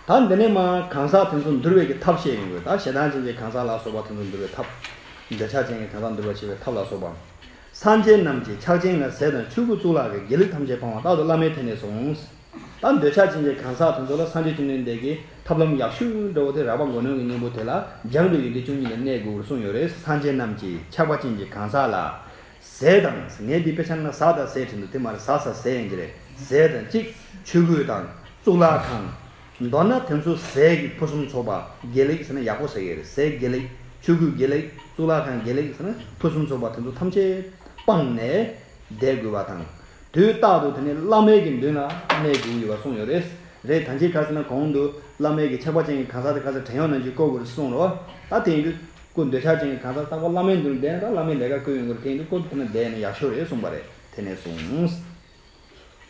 ད་འདི་ནས་མ་གང་ཟག་དེ་ཚོ་འདུལ་བའི་གི་ཐབས་བཤད་ཡོང་གི། ད་ཞེ་སྡང་ཅན་གྱི་གང་ཟག་ལ་སོགས་པ་དེ་ཚོ་འདུལ་བའི་ཐབས། འདོད་ཆགས་ཅན་གྱི་གང་ཟག་འདུལ་བར་བྱེད་པའི་ཐབས་ལ་སོགས་པ། སངས་རྒྱས་རྣམས་ཀྱིས་ཕྱག་ཆེན་ལ་ཟས་དང་ཆོས་སྐུ་གཙུག་ལག་གི་དགེ་ལེགས་ཐམས་ཅད་སྤང་བ་རྟག་ཏུ་བླ་མའི་ཐད་ནས་སོང། ད་འདོད་ཆགས་ཅན་གྱི་གང་ཟག་དེ་ཚོ་ལ་སངས་རྒྱས་བཅོམ་ལྡན་འདས་ཀྱིས་ཐབས་ལམ་ཡག་ཤོས་འདྲ་བོ་དེ་རགས་པ་མགོ་གནོན་གྱི་སྙིང་པོ་དེ་ལ་སྦྱངས་པའི་ཡོན་ཏན་བཅུ་གཉིས་ལ་གནས་དགོས་པར་གསུངས་ཡོད་རེད་སངས་རྒྱས་རྣམས་ཀྱིས་ཆགས་པ་ཅན་གྱི་གང་ཟག་ལ། ཟས་དང། ངས་འདི་དཔེ་ཆ་ནང་ཟག་དང་ཟས་བྲིས་འདུག་དེ་མ་རེད་ཟག་ཟ་ཟས་ཡིན་གྱི་རེད་ཟས་དང་གཅིག་ཆོས་གོས་དང། གཙུག་ལག་ཁང། མདོར་ན་དེ་ཚོ་ཟས་ཀྱི་ཕུན་སུམ་ཚོགས་པ་དགེ་ལེགས་ཟེར་ན་ཡག་པོ་ཟེར་གི་རེད་ཟས་དགེ་ལེགས་ཆོས་གོས་དགེ་ལེགས་གཙུག་ལག་ཁང་དགེ་ལེགས་ཟེར་ན་ཕུན་སུམ་ཚོགས་པ་དེ་ཚོ་ཐམས་ཅད་སྤངས་ནས། བསྡད་དགོས་པ་དང། དུས་རྟག་ཏུ་དེ་ནི་བླ་མེད་ཀྱི་མདུན་ལ་གནས་དགོས་ཀྱི་ཡོད་པ་གསུངས་ཡོད་རེད། རེད་ད་ཁྱེད་ཁ་སེ་ན་གོང་དུ་བླ་མེད་ཀྱི་ཆགས་པ་ཅན་གྱི་གང་ཟག་དེ་ཁ་སེ་བྲན་གཡོག་ནང་བཞིན་བསྐོས་དགོས་རེད་གསུངས་རོགས། ད་དེ་ཡིན་དུས། སྐུ་འདོད་ཆགས་ཅན་གྱི་གང་ཟག་རྟག་པར་བླ་མའི་མདུན་ལ་བསྡད་ན་ད་བླ་མའི་ལས་ཀ་བསྐོས་ཡོང་གི་རེད་དེ་ཡིན་དུས་བསྐོས་ཏེ་དེ་ན་བསྡད་ན་ཡག་ཤོས་རེད་གསུངས་པ་རེད་དེ་ནས་བཟུང།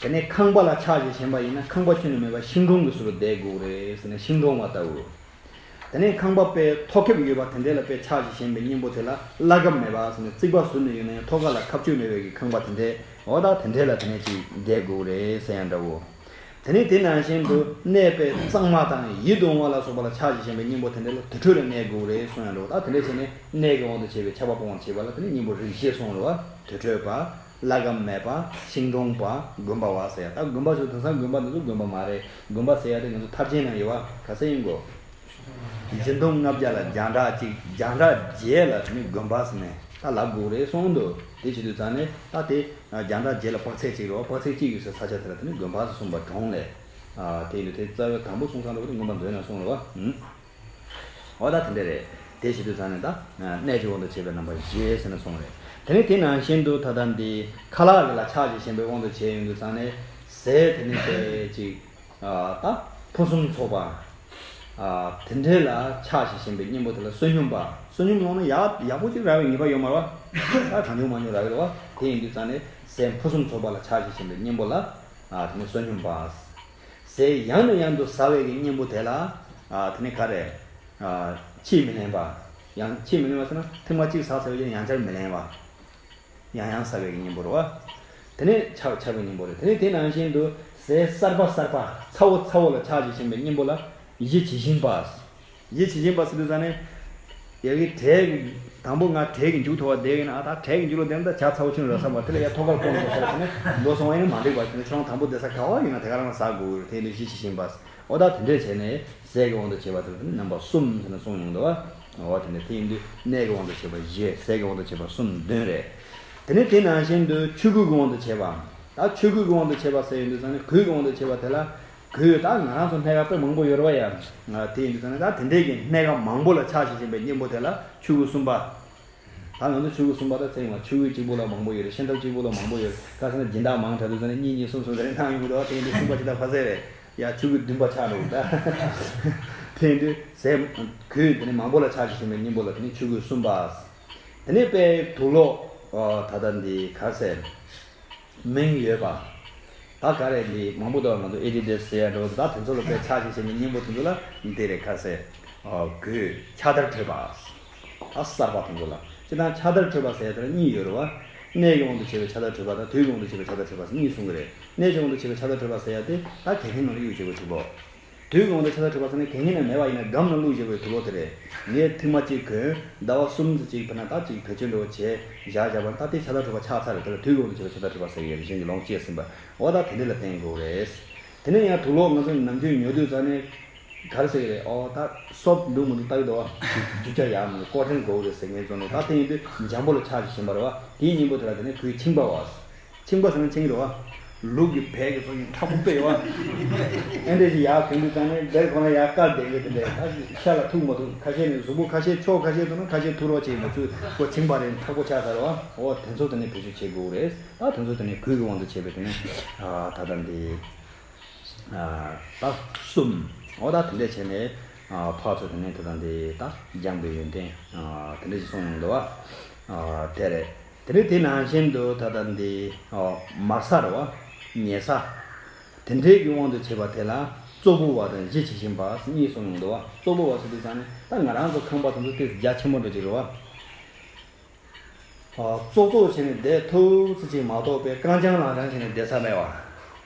དེ་ནས་ཁང་པ་ལ་ཕྱག་བྱེད་བྱེད་པ་ཡིན་ན་ཁང་པ་ཁྱོན་ནས་མེད་པར་ཤིང་དྲུང་གི་ཟུར་དུ་བསྡད་དགོས་རེད་ཟེར་ནས་ཤིང་དྲུང་བ་ལྟ་བུ། དེ་ནས་ཁང་པ་དཔེ་ཐོག་ཁེབས་ཡོད་པ་དེ་འདྲའི་ལ་དཔེ་ཕྱག་བྱེད་བྱེད་པའི་གཉེན་པོ་དེ་ལ་བླ་གབ་མེད་པ་ཟེར་ནས་རྩིག་པ་ཟུར་ནས་ཡོད་ན་ཡང་ཐོག་ཁ་ལ་ཁབ་ཆོས་མེད་པའི་གི་ཁང་པ་དེ་འདྲའི་འོག་དག་དེ་འདྲའི་ལ་དེ་ནས་ཅིག་བསྡད་དགོས་རེད་ཟེར་ཡང་འདྲ་བོ། དེ་ནས་དེ་ནང་བཞིན་དུ་གནས་དཔེ་གཙང་མ་དང་ཡིད་དུ་འོང་བ་ལ་སོགས་པ་ལ་ཕྱག་བྱེད་བྱེད་པའི་གཉེན་པོ་དེ་འདྲའི་ལ་དུར་ཁྲོད་ལ་གནས་དགོས་རེད་གསུངས་ཡང་འདྲ་བོ་དག་དེ་འདྲ་བྱས་ནས་གནས་ཀྱི་དབང་དུ་བྱས་པའི་ཆགས་པ་སྤོང་བར་བྱེད་པ་ལ་དེ་ནས་གཉེན་པོ་རིགས་ཤེས་གསུངས་རོ། དུར་ཁྲོད་པ། བླ་གབ་མེད་པ་ཤིང་སྡོང་པ་དགོན་པ་བ་ཟེར་ཡ་ད་དགོན་པ་ཞུ་དེང་སང་དགོན་པ་འདི་ཚོ་དགོན་པ་མ་རེད་དགོན་པ་ཟེར་ཡ་དེ་ང་ཚོ་ཐབས་ཆེན་ནང་ཡོད་བ་ག་ས་ཡིན་དགོ། སྦྱིན་གཏོང་ལྔ་བརྒྱ་ལ་རྒྱང་གྲགས་གཅིག་རྒྱང་གྲགས་བརྒྱད་ལ་ནི་དགོན་པ་ཟེར་ནས་ད་ལག་སྒུག་རེད་སོང་འདུག་དེ་བྱེད་དུས་ཙང་ནི་ད་དེ་རྒྱང་གྲགས་བརྒྱད་ལ་དཔག་ཚད་གཅིག་རེད་བ་དཔག་ཚད་གཅིག་ཡོད་སའི་ས་ཆ་དེ་ལ་དེ་ནི་དགོན་པ་ཟེར་གསུངས་པ་གྲོང་ལས་དེ་ཡིན་དུས་དེ་རྩ་བའི་དང་པོ་གསུངས་སང་ལོ་དེ་དགོན་པ་འདོད་ན་སོང་རེད་བ། འོ་ད་དེ་འདྲ་རེད། དེ་ཞིག་ཏུ་ཚང་ནས་ད། གནས་ཀྱི་དབང་དུ་བྱས་པའི་རྣམ་པ་བཞེས་ཟེར་ནས་སོང་བས། དེ་ནི་དེ་ནང་བཞིན་དུ་ད་ལྟ་འདི། ཁ་ལག་གི་ལ་ཕྱག་གཅིག་གཞན་པའི་དབང་དུ་བྱས་ཡོང་དུ་ཚང་ནས། ཟས་དེ་ནི་ཟས་གཅིག། ད། ཕུན་སུམ་ཚོགས་པ། དེ་འདྲའི་ལ་ཕྱག་ཞིག་བཞེངས་པའི་སྙིང་པོ་དེ་ལ་བསོད་སྙོམས་པ། བསོད་སྙོམས་སློང་ན་ཡག་ཡག་པོ་ཅིག་རག་བའི་ངེས་པ་ཡོད་མར་བ། ད་གང་བྱུང་མ་བྱུང་རག་གི་འདུག་བ། དེ་ཡིན་དུས་ཚང་ནས། ཟས་ཕུན་སུམ་ཚོགས་པ་ལ་ཕྱག་ཞིག་བཞེངས་པའི་སྙིང་པོ་ལ། དེ་ནི་བསོད་སྙོམས་པ། ཟེར་ཡང་ནས་ཡང་དུ་ཟ་བའི་གི་གཉེན་པོ་དེ་ལ། དེ་ནི་ག་རེ། ཕྱིས་མི་ལེན་པ། ཡང་ཕྱིས་མི་ལེན་པ་ཟེར་ན་ཐེངས་མ་གཅིག་ཟ་ཟེར་བའི་རྒྱུ་ནི་ཡང་བསྐྱར་མི་ལེན་བ། ཡང་ཡང་ཟ་བའི་གི་གཉེན་པོར་བ། དེ་ནི་ཆགས་ཆགས་པའི་གཉེན་པོ་རེད། དེ་ནི་དེ་ནང་བཞིན་དུ་ཟས་གསར་པ་གསར་པ་ཚ་བོ་ཚ་བོ་ལ་ཆགས་ཆགས་བྱེད་པའི་གཉེན་པོ་ལ་གཞི་ཇི་བཞིན་པ། ཡིད་བྱེད་ཀྱིན་པ་སི་ཏུ་ས་ནི། ཡ་གི་དྲེག། དང་པོ་ང་དྲེག་གི་མཇུག་མཐོ་བ་དེ་ཡིན་ཨ་ད་དྲེག་གི་མཇུག་ལོ་དེ་ནི་ད་བྱ་ཚ་བོ་ཆུ་ནི་ར་བསམ་པ་དེ་ལ་ཡ་མཐོ་ཁར་སྤོ་མི་དགོས་ས་རེད་བྱས་ནས་འགྲོ་སོང་བ་ཡིན་ན་མ་འགྲིག་པ་བྱས་ནས་ཆུ་ལང་དང་པོ་དེ་ས་ག་བ་ཡིན་ན་དེ་ག་རང་ལ་ཟག་དགོས་རེད་དེ་ཡིན་དུས་ཡིད་བྱེད་ཀྱིན་པ་སི་ཨོ་ད་དེ་འདྲས་བྱས་ནས་ཟས་ཀྱི་དབང་དུ་བྱས་པ་དེ་ལ་ནི་རྣམ་པ་གསུམ་བྱས་ནས་སོང་ཡོང་དུ་བ་འོ་དེ་འདྲས་དེ་ཡིན་དུས་གནས་ཀྱི་དབང་དུ་བྱས་པ་བཞི་ཟས་ཀྱི་དབང་དུ་བྱས་པ་གསུམ་བདུན་རེད། དེ་ནི་དེ་ནང་བཞིན་དུ་ཆོས་གོས་ཀྱི་དབང་དུ་བྱས་པའམ། ད་ཆོས་གོས་ཀྱི་དབང་དུ་བྱས་པ་ཟས་ཡིན་དུས་ས་ནི་གོས་ཀྱི་དབང་དུ་བྱས་པ་དེ་ལ་གོས་དག་ང་རང་ཚོ་སྣེ་ག་པོད་མང་པོ་ཡོད་རེད་བ་ཡ། དེ་ཡིན་དུས་ཚང་ད་དེ་འདྲས་ཀྱི་སྣེ་ག་མང་པོ་ལ་ཕྱག་བཞེས་བཞིན་པའི་སྙིང་པོ་དེ་ལ་ཆུ་བོ་གསུམ་པ། ད་ང་ཚོ་ཆུ་བོ་གསུམ་པ་ད་ཚེ་ཡོང་བ་ཆུ་བོའི་གཅིག་པོ་ལ་མང་པོ་ཡོད་རེད་ཤན་ཐབས་གཅིག་པོ་ལ་མང་པོ་ཡོད་རེད་ད་ཚང་ད་སྦྱིན་བདག་མང་དྲགས་དུས་ཚང་ད་གཉིས་གཉིས་གསུམ་གསུམ་ད་རེ་གནང་ཡོང་གི་འདུག་དེ་ཡིན་དུས་གསུམ་པ་ཇི་ལྟར་ཕ་ཟས་རེད་ཡ་ཆུ་བོའི་བདུན་པ་ཆགས་འགྲོ་གི་འདྲ། དེ་ཡིན་དུས་ཟས། གོས་དེ་ནི་མང་པོ་ལ་ཕྱག་བཞེས་བཞིན་པའི་སྙིང་པོ་ལ་དེ་ནི་ཆུ་བོའི་གསུམ་པ། དེ་ནས་དཔལ་དུ་ལོག། ད་ད་འདི་ག་ཟེར། མིང་ཡོད་པ། ད་ག་རེད་འདི་མང་པོ་འདུག་ང་ཚོ Editor ཟེར་ཡ་འགྲོ་ད་དེ་ཚོ་ལ་དཔེ་ཆ་ཞིག་བྱས་ནས་སྙིང་པོ་དེ་ཚོ་ལ་འདི་རེད་ཁ་གསལ་དགོས་ཁྱ་དར་འཕྲོད་པ་ད་གསར་པ་དེ་ཚོ་ལ་སྤྱིར་བཏང་ཁྱ་དར་འཕྲོད་པ་ཟེར་ཡ་དེ་ལ་གཉིས་ཡོད་རེད་བ། གནས་ཀྱི་དབང་དུ་བྱས་པའི་ཁྱ་དར་འཕྲོད་པ་དང་དུས་ཀྱི་དབང་དུ་བྱས་པའི་ཁྱ་དར་འཕྲོད་པ་གཉིས་གསུང་གི་རེད་གནས་ཀྱི་དབང་དུ་བྱས་པའི་ཁྱ་དར་འཕྲོད་པ་ཟེར་ཡ་དེ་ད་དེ་ཐེངས་ནང་ལ་གཡུག་བྱེད་དགོས་ཐུག་པོ། དུས་གང་དུ་ཆར་བ་འཕྲོས་པ་ཚང་མའི་གད་སྙིགས་རྣམས་མེད་པ་ཡིན་ན་སྒམ་ནང་བླུགས་བཞག་པའི་དུ་ལོག་དེ་རེད། ངས་ཐིག་མ་གཅིག་གོན། ཟླ་བ་གསུམ་ཙི་གཅིག་འཕེལ་ན་སྟབས་ཅིག་བེད་སྤྱོད་འགྲོ་བ་བྱས། བཞག་བཞག་པར་སྟབས་བདེའི་ཆར་བ་འཕྲོས་པ་ཆགས་ཚར་དེ་ལ་དུས་གང་དུ་ཆར་བ་ཆར་བ་འཕྲོས་པ་ཟེར་ཡས་རིག་གཞུང་གི་ལོངས་སྤྱད་ཟིན་པ། བ་ད་དེ་འདྲས་ལ་བརྟེན་དགོས་རེད། དེ་ནས་ཡང་དུ་ལོག་ང་ཚོ་ནམ་རྒྱུན་ཉོ་དུས་རྩ་ནས། གར་ཟེར་གྱི་རེད་ཨོ་ད། སོབ་འདུག་མི་འདུག་ལྟ་གི་འདུག་ཨ། རྒྱུ་ཆ་ཡག་མི་ཡག་ཀོ་ཧྲེང་དགོས་རེད་ཟེར་ངས་བཙོང་ནས་ད་བལྟས་ཡོང་དུས་འཇམ་པོ་ལ་ཆགས་ཀྱི་བཞིན་པར་བ་དེའི་སྙིང་པོ་དེ་ལ་བལྟས་ནས་གོས་འཆིང་པ་བ། ཆིང་པོ་ཧྲང་ཆིང་རེད་བ། ལུག་གི་བལ་གྱི་ཚོགས་ཀྱི་ཁྲ་ཕུག་པས་རེད་བ། ཨེ་འདྲས་ཤིག་ཡག་གང་གི་ཙང་ནས་བལ་ཁོ་ན་ཡག་དཀར་བསྡད་ཡོད་དེ་འདྲས་ད་ཤ་ལ་ཐུག་མ་ཐུག་ཁ་ཤས་ནས་གཟུགས་པོ་ཁ་ཤས་ཕྱོགས་ཁ་ཤས་དུ་ན་ཁ་ཤས་ཐུག་རོགས་བྱས་ཡིན་པ་ཚུལ་ཁོ་ཆིང་པ་རེད་འཁྲག་པོ་ཆགས་ཚར་རེད་བ་ཨོ་དེ་ཚོ་དེ་ནས་བེད་སྤྱོད་བྱེད་དགོས་རེད་ད་དེ་ཚོ་དེ་ནས་གུས་ཀྱི་དབང་དུ་བྱས་པའི་དེ་ནས་ད་ལྟ་འདི་ད་གསུམ་ཨོ་ད་དེ་འདྲས་བྱས་ནས་ཕག་ཚོ་དེ་ནས་ད་ལྟ་འདི་ད་སྦྱངས་པའི་ཡོན་ཏན་དེ་འདྲས་ཤིག་སོང་ཡོང་དེ་བ་དེ་རེད། དེ་ནི་དེ་ནང་བཞིན་དུ་ད་ལྟ་འདི། མ་སར་བ། ཉེ་ས། དེ་འདྲའི་གི་དབང་དུ་བྱས་པ་དེ་ལ། ཙོག་པུ་བ་དང་གཞི་བྱེད་བཞིན་པ་གཉིས་སུ་མྱོང་འདུག་བ། ཙོག་པུ་བ་སུ་དེ་ཙང་ནི་ད་ང་རང་ཚོ་ཁང་པ་དང་ཚོ་སྟེ་རྒྱ་ཆེན་པོ་འདྲ་གཅིག་རེད་བ། ཙོག་ཙོག་བྱས་ནས་བསྡད་ཐུབ་ཚེ་གཅིག་མ་གཏོགས་པའི་རྐང་བྱང་ལག་བྱང་བྱས་ནས་བསྡད་ས་མེད་བ།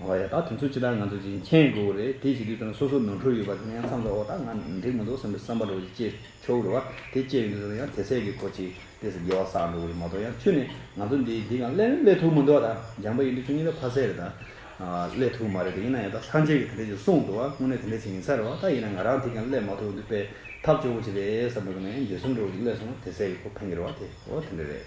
ཨོ་ཡ་ད་དེ་ཚོ་ཅི་ལྟར་ང་ཚོ་གཅིག་མཁྱེན་དགོས་རེད་དེ་བྱེད་དུས་དོན་ལ་སོ་སོ་ནོར་འཁྲུལ་ཡོད་པ་དེ་ནས་མཚམས་འཇོག་འོ་ད་ང་འགྲིག་མི་འདུག་བསམ་པའི་བསམ་པ་རོ་གཅིག་བཅད་ཆོག་གི་རེད་བ་དེ་བཅད་ཡོང་དུས་ཚོད་ཡང་དེ་ཟད་ཀྱི་གོ་གཅིག་དེ་ཟེར་དགེ་བ་བསགས་འགྲོ་གི་རེད་མ་གཏོགས་ཡང་ཁྱོད་ནི་ང་ཚོ་འདི་འདི་གང་སླད་ནི་སླད་ཐུག་མི་འདུག་ཨ་ད་འཇམ་པ་ཡིན་དུས་ཁྱོད་གཉིས་ཀ་ཕ་ཟེར་རེད་ད། སླད་ཐུག་མ་རེད་དེ་ཡིན་ན་ཡང་ད་སངས་རྒྱས་ཀྱིས་དེ་འདྲས་ཀྱི་གསུངས་འདུག་ཨ་དངོས་གནས་དེ་འདྲས་བྱེད་ཡིན་ས་རེད་བ་ད་ཡིན་ན་ང་རང་དེ་གང་སླད་མ་ཐུག་ཡོང་དུས་དཔེ་ཐབས་སྐྱོ་བོ་ཅིག་རེད་བསམ་འགྲོ་གི་ནས་འདི་གསུམ་འགྲོ་གི་སླད་སོང་ན་དེ་ཟད་ཀྱི་གོ་ཕན་གི་རེད་བ་དེ་འོ་དེ་འདྲས་རེད།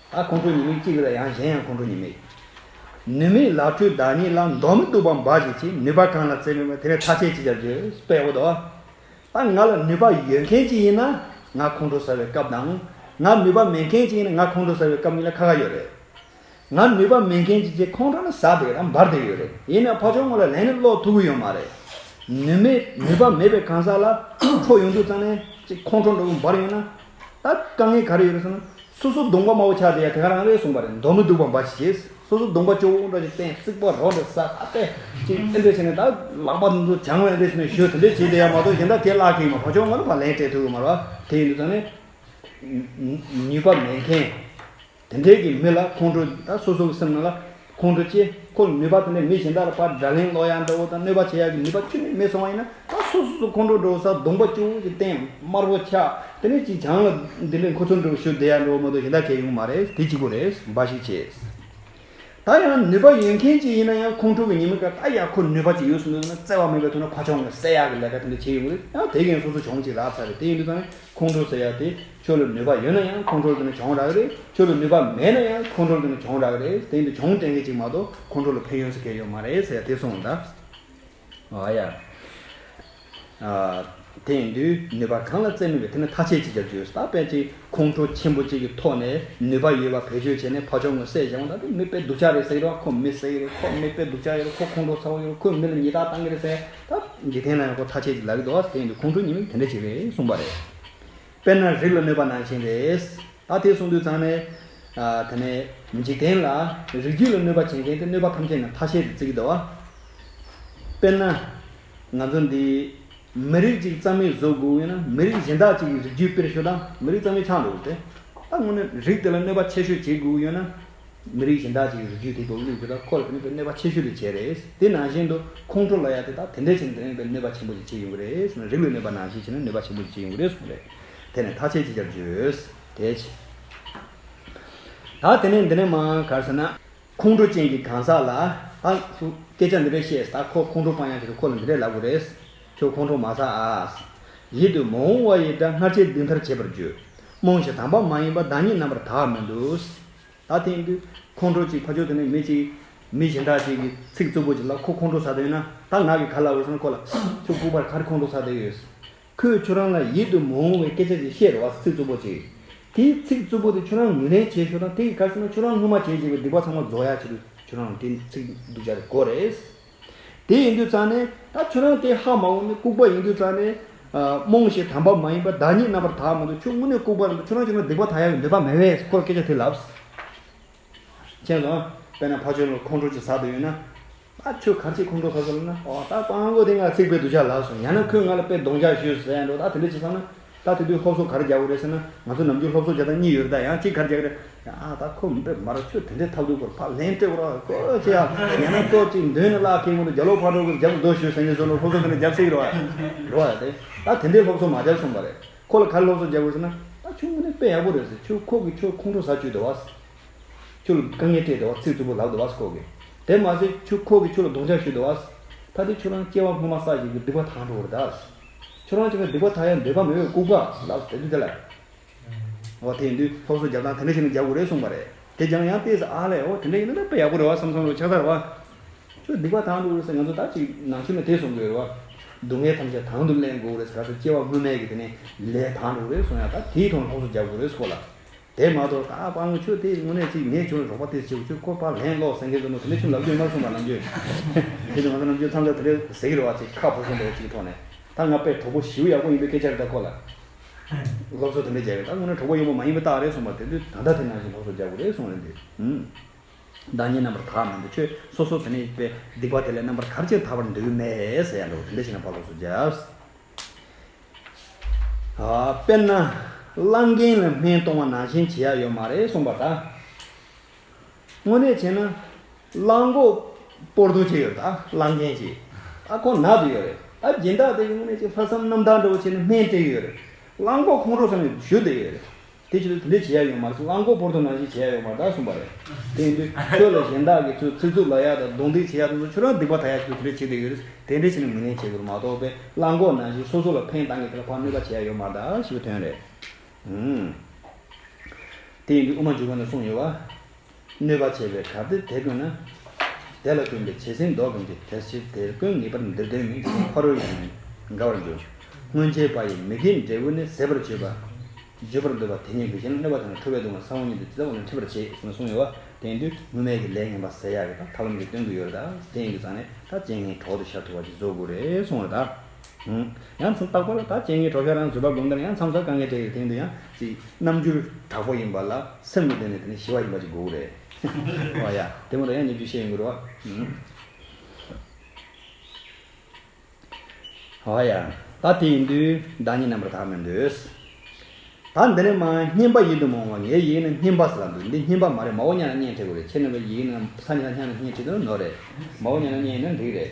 ད་ཁོང་ཁྲོ་ཉི་མིག་གཅིག་གི་ལ་ཡང་གཞན་ཡང་ཁོང་ཁྲོ་ཉི་མིག། ནུས་མེད་ལག་འཁྲུལ་བདག་ཉིད་ལ་མདོག་མི་སྡུག་པ་འབའ་ཞིག་བྱེད་ནུས་པ་གང་ལ་བརྩེ་མེད་པ་དེ་ལས་ཐ་ཆད་ཅི་བྱ་རྒྱུ་དཔེ་འོ་དོ། ད་ང་ལ་ནུས་པ་ཡོད་མཁན་ཅིག་ཡིན་ན་ང་ཁོང་ཁྲོ་ཟ་བའི་སྐབས་དང། ང་ནུས་པ་མེད་མཁན་ཅིག་ཡིན་ན་ང་ཁོང་ཁྲོ་ཟ་བའི་སྐབས་གཉིས་ལ་ཁ་ཁ་ཡོད་རེད། ང་ནུས་པ་མེད་མཁན་ཅིག་ཅེས་ཁོང་ཁྲོ་ནི་ཟ་བསྡད་དང་འབར་བསྡད་ཡོད་རེད་ཡིན་ནའི་ཕ་ཆོག་ངོ་ལ་ལན་ནི་སློག་ཐུབ་ཀྱི་ཡོད་མ་རེད། ནུས་མེད་ནུས་པ་མེད་པའི་གང་ཟག་ལ་ཁྲོ་ཡོང་དུས་ཙང་ནས་ཅིག་ཁོང་ཁྲོ་འདྲ་བོ་འབར་ཡོང་ན། ད་དཀའ་ངལ་ག་རེ་ཡོད་རེད་ཟེར་ན། སོ་སོ་གདོང་པ་དམར་པོ་ཆགས་བསྡད་ཡ་དེ་ག་རང་རེད་གསུངས་པ་རེད་མདོག་མི་སྡུག་པ་འབའ་ཞིག་བྱེད། སོ་སོ་གདོང་པ་ཅོག་བུ་འུར་འདྲ་ཞིག་བསྟན་རྩིག་པ་རོ་འདྲ་ཟ་ཁ་གཏད་ཅིག་ཨེ་འདྲ་བྱས་ནས་ད་ལག་པ་འདི་ཚོ་བྱང་བས་འདྲ་བྱས་ནས་ཞོ་དེ་འདྲ་བྱས་བསྡད་ཡ་མ་གཏོགས་གཞན་དག་དེ་བརླག་གི་ཡིན་མ་གོ་ཆོག་ང་རང་ལ་ལན་སྤྲད་ཐུབ་ཡོད་མ་རེད་བ་དེ་ཡིན་དུས་ད་ནི། ནུས་པ་མེད་མཁན། དེ་འབྲེལ་གྱི་མི་ལ་ཁོང་ཁྲོ་དང་སོ་སོ་གི་སེམས་ནང་ལ་ཁོང་ཁྲོ་སྐྱེས། ཁོ་ནུས་པ་དེ་འདྲ་མི་གཞན་དག་ལ་པར་སྒྲ་གླེང་ཀློག་ཡག་འདྲ་བོ་དང་གནོད་པ་བྱེད་ཡག་གི་ནུས་པ་ཁྱོད་ནས་མེད་སོང་བ་ཡིན་ན་ད་སོ་སོ་སོ་ཁོང་ཁྲོ་འགྲོ་བའི་སར་གདོང་པ་སྐྱུར་བོ་ཞིག་བསྟན་དམར་བོ་འཁྱག་དེ་ནས་ཅིག་བྱང་ལ་འདི་འདྲའི་མཁོ་ཚོར་འགྲོ་བའི་ཤུལ་བདེ་ཡག་འགྲོ་བ་མ་གཏོགས་གཞན་དག་གལ་ཡོང་གི་མ་རེད་དེ་གཅིག་པོ་རེད་འབའ་ཞིག་བྱས། ད་ཡང་ནུས་པ་ཡོད་མཁན་ཅིག་ཡིན་ན་ཡང་ཁོང་ཁྲོ་གི་ཉིན་མོ་དག་ད་ཡང་ཁོ་ནུས་པ་ཅིག་ཡོད་སོང་འདོད་ན་བརྩེ་བ་མེད་པའི་ཐོག་ན་ཕ་ཆོང་གིས་བསད་ཡག་གི་ལས་ཀ་དེ་འདྲ་བྱས་ཡོང་གི་རེད་ཡང་དེ་གན་སོ་སོ་བྱུང་ཅིག་རག་ཚར་རེད་དེ་ཡིན་དུས་ད་ནི་ཁོང་ཁྲོ་ཟེར་ཡག་དེ། ཁྱོད་ལ་ནུས་པ་ཡོད་ན་ཡང་ཁོང་ཁྲོ་རྒྱུ་ནི་གྱོང་རག་རེད་ཁྱོད་ལ་ནུས་པ་མེད་ན་ཡང་ཁོང་ཁྲོ་རྒྱུ་ནི་གྱོང་རག་རེད་དེང་དུས་གྱོང་དྲན་མཁན་གཅིག་མ་གཏོགས་ཁོང་ཁྲོ་ལ་ཕན་ཡོན་ཟེར་མཁན་ཡོད་མ་རེད་ཟེར་དེ་སོང་ད། ཨ་ཡ། དེང་དུས་ནུས་པ་གང་ལ་བརྩེ་མི་དགོས་དེ་ནི་ཐ་ཆད་ཅིག་རྒྱབ་རྒྱུ་ཡོད་ད་དཔེ་ཅིག་ཁོང་ཁྲོ་ཆེན་པོ་གཅིག་གི་ཐོག་ནས་ནུས་པ་ཡོད་པ་བེད་སྤྱོད་བྱས་ནས་ཕ་ཆོག་ངོ་སད་བྱས་ང་ད་དེ་མི་དཔེ་སྡུག་ཅག་རེད་ཟེར་གི་རེད་བ་ཁོ་མི་ཟེར་གི་རེད་ཁོ་མི་དཔེ་སྡུག་ཅག་ཡོད་རེད་ཁོ་ཁོང་ཁྲོ་ཚ་བོ་ཡོད་རེད་ཁོས་མི་ལ་ཉིས་རྟགས་བཏང་གི་རེད་ཟེར་ད། འཇིག་རྟེན་ན་ཡང་ཁོ་ཐ་ཆད་ཅིག་ལབ་ཀྱི་འདུག་ཨ་དེང་དུས་ཁོང་ཁྲོ་ཉིན་མོ་དེ་འདྲ་ཅིག་རེད་གསུངས་པ་རེད། དཔེར་ན་རིགས་ལ་གནོད་པ་ནང་བཞིན་རེད། ད་དེ་གསུངས་དུས་ཚང་མས། དེ་ནས་འཇིག་རྟེན་ལ་རིགས་རྒྱུད་ལ་གནོད་པ་བྱེད་མཁན་དེ་གནོད་པ་ཐམས་ཅད་ནི་ཐ་ཤལ་དུ་བརྩི་གི་འདུག་བ། དཔེར་ན། ང་ཚོ་འདི། མི་རིགས་གཅིག་གཙང་མའི་བཟོ་དགོས་ཡོད་ན་མི་རིགས་གཞན་དག་ཅིག་གི་རིགས་རྒྱུད་དཔེར་ཞུ་དང་མི་རིགས་གཙང་མའི་ཆགས་འགྲོ་འདུག་སྟེ། ད་སྔོན་ནས་རིགས་དེ་ལ་གནོད་པ་ཆེ་ཤོས་བྱེད་དགོས་ཀྱི་ཡོད་ན། མི་རིགས་གཞན་དག་ཅིག་གི་རུས་རྒྱུད་དེ་དགོས་གནད་འདུས་ལ་ཁོ་ལ་དེ་མེད་པའི་གནོད་པ་ཆེ་ཤོས་དེ་བྱས་རེད། དེ་ནང་བཞིན་དུ་ཁོང་ཁྲོ་ལ་ཡང་དེ་དག་དེ་འདྲའི་ཆེད་ནས་དེ་མེད་པའི་གནོད་པ་ཆེན་པོ་ཞིག་བྱེད་ཡོང་གི་རེད། རིགས་ལུས་མེད་པ་ནང་བཞིན་བྱས་ན་གནོད་པ་ཆེན་པོ་ཞིག་བྱེད་ཡོང་གི་རེད་གསུངས་པས། དེ་ནས་ཐག་བཅད་ཅིག་ཅར་བརྗོད། དེ་ཕྱིན། ད་དེ་ནས་འདི་ནས་མ་གར་ཟེར་ན། ཁོང་ཁྲོ་ཅན་གྱི་གང་ཟག་ལ། ད་སུ་སྐད་ཆ་འདི་འདྲ་བཤད། ད་ཁོ་ཁོང་ཁྲོ་སྤང་ཡང་བྱས་ཏེ་ཁོ་ལ་འདི་འདྲ་ལབ་དགོས་རེད། ཁྱོད་ཁོང་ཁྲོ་མ་ཟ་ཨཱ། ཡིད་དུ་མ་འོང་བ་ཡི་སྒྲ་སྔར་བྱས་འདི་མཐར་བྱེད་པར་བརྗོད། རྨོངས་བྱེད་དམ་པ་མ་ཡིན་པ་བདག་ཉིད་རྣམ་པར་དག་མི་འདུག། ད་ཐེངས་འདི་ཁོང་ཁྲོ་ཅིག་ཕ་ཆོས་དེ་ནས་མི་གཅིག། མི་གཞན་དག་ཅིག་གིས་ཚིག་རྩུབ་པོ་ཅིག་ལ་ཁོ་ཁོང་ཁྲོ་ཟ་དོན་ན་ད་ང་གི་ག་ལ་འོས་སམ་ཁོ་ལ་ཁྱོད་ལྐུགས་པར་ག་རེ་ཁོང་ཁྲོ་ཟ་དོན་ཡོད། ཁོས་ཁྱོད་རང་ལ་ཡིད་དུ་མི་འོང་བའི་སྐད་ཆ་ཅིག་བཤད་རོགས་ཚིག་རྩུབ་པོ་ཅིག། དེའི་ཚིག་རྩུབ་པོ་དེ་ཁྱོད་རང་ངོས་ལེན་བྱེད་ཞོར་དང་དེ་གི་གར་སོང་ན་ཁྱོད་རང་སྔོན་མ་བྱས་བྱས་པའི་སྡིག་པ་ཚང་མ་རྫོགས་ཡག་ཕྱིར་ཁྱོད་རང་ལ་དེ་ཚིག་སྡུག་ཅག་དེ་གོ་རེས། དེ་ཡིན་དུས་ཙང་ནས། ད་ཁྱོད་རང་དེ་ཧ་མ་འོང་ནི་ལྐུགས་པ་ཡིན་དུས་ཙང་ནས། རྨོངས་ཞེས་དམ་པ་མ་ཡིན་པ་བདག་ཉིད་རྣམ་པར་དག་མི་འདུག་ཁྱོད་དངོས་གནས་ལྐུགས་པ་རེད་འདུག་ཁྱོད་རང་ཁྱོད་རང་སྡིག་པ་དག་ཡ་བའི་འདོད་པ་མེད་བས་ཁོ་ལ་སྐད་ཆ་དེ་ལབས། མཁྱེན་སོང། དཔེར་ན་ཕ་ཆོས་ལོག་ཁོང་ཁྲོ་ཅིག་ཟ་འདོད་ཡོད་ན། ད་ཁྱོད་གར་ཆེད་ཁོང་ཁྲོ་ཟ་ཟེར་ལབ་ན། འོ་ད་ཀོང་ཀོང་དེ་ང་ཚིག་དཔེ་བསྡུ་བྱ་ལབས་སོང་ཡང་ན་ཁོས་ང་ལ་དཔེ་གདོང་རྒྱག་ཞུས་ཟེར་ཡང་འགྲོ་ད་དེ་འདྲ་བྱས་ཙང་ན། ད་དེ་དུས་སློབ་གསོ་གར་རྒྱག་གི་རེད་ཟེར་ན་ང་ཚོ་ནམ་རྒྱུན་སློབ་གསོ་བྱེད་སྟངས་གཉིས་ཡོད་རེད་ད་ཡང་གཅིག་གར་རྒྱག་གི་རེད། ཡང་ད་ཁོ་མི་འདྲ་མར་ཁྱོད་དེ་འདྲའི་ཐབས་སྡུག་པོར་ཕར་ལན་སྤྲད་དགོས་རོགས་ཁོ་ཅི་ཡང་ཉན་ན་ལྟོས་ཅིག་མདུན་ནས་བརླག་ཁེངས་མོད་རྒྱ་ལོ་ཕར་འགྲོ་དགོས་རྒྱབ་ཏུ་སྡོད་ཞོད་ཟེར་ཉིན་སོ་ནོར་སློབ་གསོ་འདི་འདྲ་རྒྱབ་སྲིད་ཀྱི་རེད། རེད་དེ། ད་དེ་འདྲའི་སློབ་གསོ་མ་རྒྱབ་སོང་བ་རེད། ཁོ་ལ་གར་སློབ་གསོ་རྒྱག་དགོས་ཟེར་ན། ད་ཁྱོད་དངོས་གནས་དཔེ་ཡག་པོ་རེད་ཟེར་ཁྱོད་ཁོ་གིས་ཁྱོད་ཁོང་ཁྲོ་ཟ་བཅུག་བསྡད་བ། ཁྱོད་ལ་དཀའ་ངལ་སྤྲད་བསྡད་བ་ཚིག་རྩུབ་པོ་ལབ་བསྡད་བ་ཁོ་གིས། དེ་མ་ཟད་ཁྱོད་ཁོ་གིས་ཁྱོད་ལ་གདོང་འཇགས་ཞུས་བསྡད་བ། ད་དེ་ཁྱོད་རང་སྐྱེ་བ་སྔོན་མ་ས་ཞིག་གི་སྡིག་པ་དང་འགྲོ་གི་རེད་ད། ཁྱོད་རང་ཅེས་པའི་སྡིག་པ་མཐའ་ཡས་འདོད་པ་མེད་པའི་ལྐུགས་པ་ལ་ཟེར་ཏེ་དེ་ལ། འོ་དེ་ཡིན་དུས་ཐོག་སོ་བརྒྱབ་དང་དེ་འདྲ་བྱས་ན་རྒྱག་དགོས་རེད་གསུངས་པ་རེད་དེ་རྒྱང་ཡང་བལྟས་ཟ་ཨ་ལས་འོ་དེ་འདྲ་ཡིན་ན་ད་ཡག་པོ་རེད་བ་བསམ་སོང་རོ་ཕྱག་དར་བ། ཁྱོད་སྡིག་པ་དང་དུ་རེད་ས་ང་ཚོ་ད་ཅིག་ནང་ཆོས་ནས་དེ་གསུངས་དགོས་རེད་བ། སྡུག་བསྔལ་ཐམས་ཅད་དང་དུ་གླེང་དགོས་རེད་ས་ད་ཚོ་སྐྱེ་བ་སྔོན་མེད་ཀྱི་དེ་ནས་ལས་དང་དུ་རེད་གསུངས་ཡང་ད་དེའི་ཐོག་ལ་ཐོག་སོ་བརྒྱབ་དགོས་རེད་གསུངས་པ་ལ། དེ་མ་གཏོགས་ད་བར་ངོ་ཆོས་དེ་དངོས་གནས་ཅིག་མེད་བྱུང་རོགས་པ་དེ་བྱེད་ཁྱོད་ཁོ་པ་ལན་སློག་བཟང་གི་འདུག་མོ་དེ་ནས་ཁྱིམ་ལབ་རྒྱུ་མ་གསུངས་པ་ནམ་རྒྱུན་ཁྱེད་ཚོ་ང་ཚོ་ནམ་རྒྱུན་འཚང་རྒྱ་དེ་འདྲའི་ཟེར་གི་རེད་བ་ཅེས་ཁ་ཕོ་གསུམ་པའི་ཅིག་ཐོག་ནས་ད་ང་དཔེ་གྲོགས་པོ་ཞེའུ་ཡག་པོ་ཡིན་པའི་སྐད་ཆ་རེ་ད་ཁོ་ལ་སློབ་གསོ་དེ་འདྲ་རྒྱག་གི་ད་དངོས་གནས་གྲོགས་པོ་ཡོད་པོ་མ་ཡིན་པའི་རྟགས་རེད་གསུངས་པ་དེ་དུས་ད་ལྟ་དེ་ནང་བཞིན་སློབ་གསོ་རྒྱག་དགོས་རེད་གསུངས་རེད་འདུག་ཧུམ། བདག་ཉིད་རྣམ་པར་དག་མི་འདུག་ཁྱོད་སོ་སོ་དེ་ནས་པའི་སྡིག་པ་དེ་ལས་རྣམ་པར་གར་ཅིག་དག་པར་འདོད་ཀྱི་མེད་ཟེར་ཡ་འདུག་དེ་འདྲ་ཞིག་ན་བ་སློབ་གསོ་རྒྱབ། དཔེར་ན། གླང་རྒན་ལ་སྨན་གཏོང་བ་ནང་བཞིན་བྱེད་ཡ་ཡོད་མ་རེད་གསུངས་པ་ལྟར། དངོས་གནས་བྱས་ན། གླང་མགོ་སྤོར་ཐུག་བྱས་ཡོད་ད་གླང་རྒན་གྱིས། ཨ་ཁོ་ནག་ཏུ་ཡོད་རེད་ད་སྦྱིན་བདག་དེ་གིས་དངོས་གནས་ཅིག་ལྷག་བསམ་རྣམ་དག་འདྲ་བོ་བྱས་ནས་སྨན་སྤྲད་ཀྱི་ཡོད་རེད་གླང་མགོ་ཁོང་ཁྲོ་ས་ནས་བཞུ་བསྡད་ཡོད་རེད་དེ་ཕྱིར་དེ་འདྲའི་བྱེད་ཡ་ཡོད་མ་རེད་རླངས་འཁོར་བོར་ཐོ་ནང་བཞིན་བྱེད་ཡ་ཡོད་མ་རེད་གསུངས་པ་རེད། དེ་འདྲའི་ཁྱོད་ལ་གཞན་དག་གི་ཚོས་ཚིག་རྩུབ་ལ་ཡ་དང་གདོང་འདེགས་བྱེད་ཡ་སོ་སོ་ཁྱོད་རང་སྡིག་པ་ད་ཡ་ཞིག་ཏུ་དེ་འདྲའི་བྱེད་བསྡད་ཡོད་རེད། དེ་འདྲའི་བྱེད་ནས་མི་ལེན་བྱེད་དགོས་རེད་མ་གཏོགས་པས་རླངས་འཁོར་ནང་བཞིན་སོ་སོ་ལ་ཕན་བཏང་གི་དེ་ལ་ཕངས་ནུས་པ་བྱེད་ཡ་ཡོད་མ་རེད་ཞེས་པའི་དོན་རེད། དེ་ཡིན་དུས་དབུ་མ་འཇུག་པ་ནས་གསུངས་ཡོད་བ། གནོད་པ་བྱེད་པའི་གར་དེ་དེད་དགོས་ན། དེ་ལ་བསྟུན་པའི་བྱད་བསྲིང་བཟློག་གིན་གྱི་དེར་ཕྱིར་དེ་ཀུན་ངེས་པར་འདིར་འདོན་མིན་ཞེས་ཕ་རོལ་ཡང་དགའ་བར་འགྱུར། སྔོན་ཆད་པ་ཡི་མི་དགེའི་འབྲས་བུ་ནི་ཟད་པར་བརྗོད་པ། བརྗོད་པར་འདོད་པ་དེ་ཉིད་འདུ་བྱེད་ལ་གནོད་པ་དང་ཁྲོ་བའི་གདུང་བ་ས་བོན་ཉིད་དུ་ཇི་ལྟ་བ་ལ་འཁྲིད་པར་བྱེད་ཅེས་གསུངས་ཡོད་པ་དེང་དུས་དངོས་མེད་ཀྱི་ལས་ངན་པ་ཟད་ཡག་གི་དང་ཐབས་ལམ་གྱི་སྟོན་དགོས་ཡོད་རེད་ད། དེ་ཡིན་དུ་ཙང་ནས་ད་རྗེས་ངའི་གྲོགས་དེ་ཤར་ཐུབ་བར་གྱི་རྫོགས་སྐུ་རེ་སོང་རེད་ད། ཡང་མཚམས་རྟག་པར་དག་བྱེད་ངེས་གྲོགས་ཤར་རང་བཟོད་པ་སྒོམ་ལྟར་ཡང་མཚམས་གསར་དཀའ་ངལ་འཕྲད་ཡོད་དེང་དུ་ཡང་ཅི། རྣམ་འགྱུར་དྲག་པོ་ཡིན་པ་ལ་སེམས་ཀྱི་སྟེང་ནས་དེ་ནི་ཞི་བ་ཡིན་པ་ཅིག་དགོས་རེད། ཨོ་ཡ། དེ་མུར་ཡང་ཉེ་བརྒྱུད་བཤད་ཡོང་གི་རོགས། ཨོ་ཡ། ད་དེ་ཡིན་དུས་བདག་ཉིད་རྣམ་པར་དག་མི་འདོད། ད་འདི་ནི་མ་སྙན་པ་ཡིན་དུ་མ་འོང་བ་ངའི་ཡིག་ནི་སྙན་པ་ཟེར་ལ་འདུག་འདི་སྙན་པ་མ་རེད་མ་འོ་ཉལ་ལ་སྙན་བྲིས་དགོས་རེད་ཁྱེད་རྣམ་པའི་ཡིག་ནི་ས་ཉལ་ལ་སྙན་ནི་སྙན་བྲིས་དུ་ནོར་རེད་མ་འོ་ཉལ་ལ་སྙན་ཡིན་ན་འགྲིག་རེད།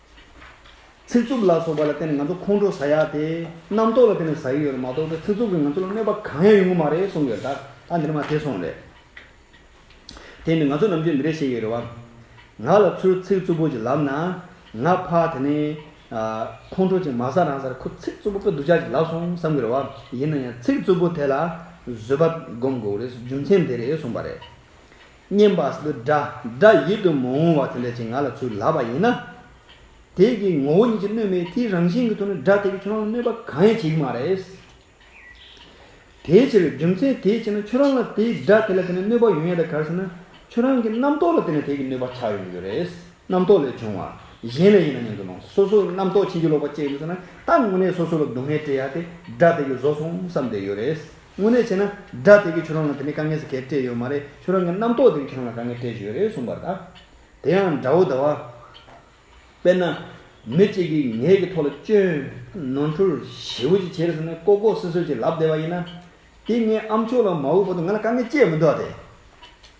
ཚིག་རྩུབ་ལ་སོགས་པ་ལ་བརྟེན་ནས་ང་ཚོ་ཁོང་ཁྲོ་ཟ་ཡག་དེ། རྣམ་རྟོག་ལ་བརྟེན་ནས་ཟ་ཡི་ཡོད་རེད་མ་གཏོགས་ཚིག་རྩུབ་ཀྱིས་ང་ཚོ་ལ་གནོད་པ་གང་ཡང་ཡོང་གི་མ་རེད་གསུངས་ཡོད་ད། ད་འདིར་མ་ཐེ་སོང་རེད། དེ་ནི་ང་ཚོ་ནམ་རྒྱུན་འདི་རེད་བཤད་ཡོད་རེད་བ། ང་ལ་ཚུར་ཚིག་རྩུབ་པོ་ཅིག་ལབ་ན། ང་ཕ་དེ་ནས། ཁོང་ཁྲོ་ཅིག་མ་ཟ་རང་སར་ཁོ་ཚིག་རྩུབ་པོ་དཔེ་སྡུག་ཅག་ཅིག་ལབ་སོང་བསམ་གི་རེད་བ། ཡིན་ན་ཡང་ཚིག་རྩུབ་པོ་དེ་ལ་བཟོད་པ་སྒོམ་དགོས་རེད་རྒྱུ་མཚན་དེ་རེད་གསུངས་པ་རེད། བསྙེན་པ་སུ་དགྲ་སྒྲ་ཡིད་དུ་མ་འོང་བ་དེ་འདྲ་ཅིག་ང་ལ་ཚུར་ལབ་པ་ཡིན་ན། དེས་ཀྱི་ངོ་བོ་ཉིད་ཀྱི་སྣོད་མེད་དེའི་རང་བཞིན་གྱི་ཐོག་ནས་སྒྲ་དེ་ཀྱིས་ཁྱོད་རང་ལ་གནོད་པ་གང་ཡང་བྱེད་ཀྱི་མ་རེད། དེའི་ཕྱིར་རྒྱུ་མཚན་དེའི་ཕྱིར་ན་ཁྱོད་རང་ལ་དེའི་སྒྲ་དེ་ལ་བརྟེན་ནས་གནོད་པ་ཡོང་ཡ་དེ་ག་རེ་ཟེར་ན། ཁྱོད་རང་གི་རྣམ་རྟོག་ལ་བརྟེན་ནས་དེ་ཀྱི་གནོད་པ་ཆགས་ཡོང་གི་ཡོད་རེད། རྣམ་རྟོག་ལས་བྱུང་བ། གཞན་ལས་ཡིན་ན་སྙམ་དུ་སྣང། སོ་སོའི་རྣམ་རྟོག་ཕྱིན་ཅི་ལོག་པ་སྐྱེ་ཡོང་གི་ཟེར་ན་ད་དངོས་གནས་སོ་སོ་ལ་སྡུག་བསྔལ་སྤྲད་ཡ་དེ་སྒྲ་དེ་ཀྱིས་བཟོ་སོང་བསམ་བསྡད་ཡོད་རེད། དངོས་གནས་བྱས་ན་དགྲ་དེ་གིས་ཁྱོད་རང་ལ་དེ་ནས་དཀའ་ངལ་ཟེར་སྐད་སྤྲད་ཡོད་མ་རེད་ཁྱོད་རང་གི་རྣམ་རྟོག་དེ་གིས་ཁྱོད་རང་ལ་དཀའ་ངལ་སྤྲད་བཞིན་ཡོད་རེད་གསུངས་པར་ད་དེ་ཡང་འདྲ་བོ་ད་བ། དཔེར་ན། མི་གཅིག་གིས་ངེད་ཀྱི་ཐོག་ལ་སྐྱོན། ནོར་འཁྲུལ། ཞེ་བོ་ཅིག་བྱས་ཟེར་ནས་ལྐོག་ལྐོག་སིལ་སིལ་གྱིས་ལབ་བསྡད་པ་ཡིན་ན། དེ་ངའི་ཨ་མཆོག་ལ་མ་འོས་པ་དུ་ང་ལ་དཀའ་ངལ་སྤྱད་མི་འདུག་ཨ་དེ།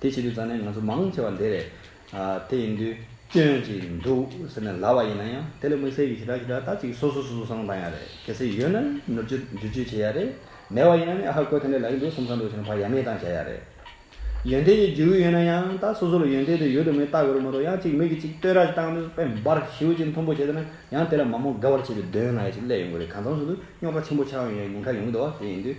དེ་བྱེད་དུས་རྩ་ནས་ང་ཚོ་མང་ཆེ་བ་འདི་རེད། དེ་ཡིན་དུས་སྐྱོན་ཅིག་འདུག་ཟེར་ནས་ལབ་པ་ཡིན་ན་ཡང་དེ་ལ་དམིགས་བསལ་གྱི་ཞེ་དྲག་ཞེ་དྲག་ད་ཅིག་སོ་སོ་སོ་སོ་སོ་ནང་བཏང་ཡག་རེད་གལ་སྲིད་ཡོད་ན་ནོར་བཅོས་བསྒྱུར་བཅོས་བྱེད་ཡག་རེད་མེད་པ་ཡིན་ན་ནི་ཨ་ཧ་བཀོད་དེ་འདྲ་ལ་ཡི་འདུག་སོམས་ས་འདུག་ཟེར་ནས་བག་ཡ་མེད་བཏང་བྱ་ཡག་རེད། ཡོན་ཏན་གྱི་རྒྱུ་ཡོད་ན་ཡང་ད་སོ་སོ་ལ་ཡོན་ཏན་དེ་ཡོད་དུ་མེད་ལྟ་དགོས་རེད་མ་གཏོགས་ཡང་ཅིག་མིག་གིས་ཅིག་ལྟོས་ར་ཅིག་བཏང་དུས་དཔེ་འབར་ཞིའུ་ཅིག་མཐོན་པོ་བྱས་ཟེར་ན་ཡང་དེ་ལ་མ་མོ་དགའ་བར་བྱེད་པའི་འདོད་ཡོན་ལ་ཡ་ཞིག་སླེབས་ཡོང་གི་རེད་གང་མཚམས་སུ་དུ་རྙོག་དྲ་ཆེན་པོ་ཆགས་ཡོང་ཡང་ཉེན་ཁ་ཡོང་གི་འདུག་བ་དེ་ཡིན་དུས།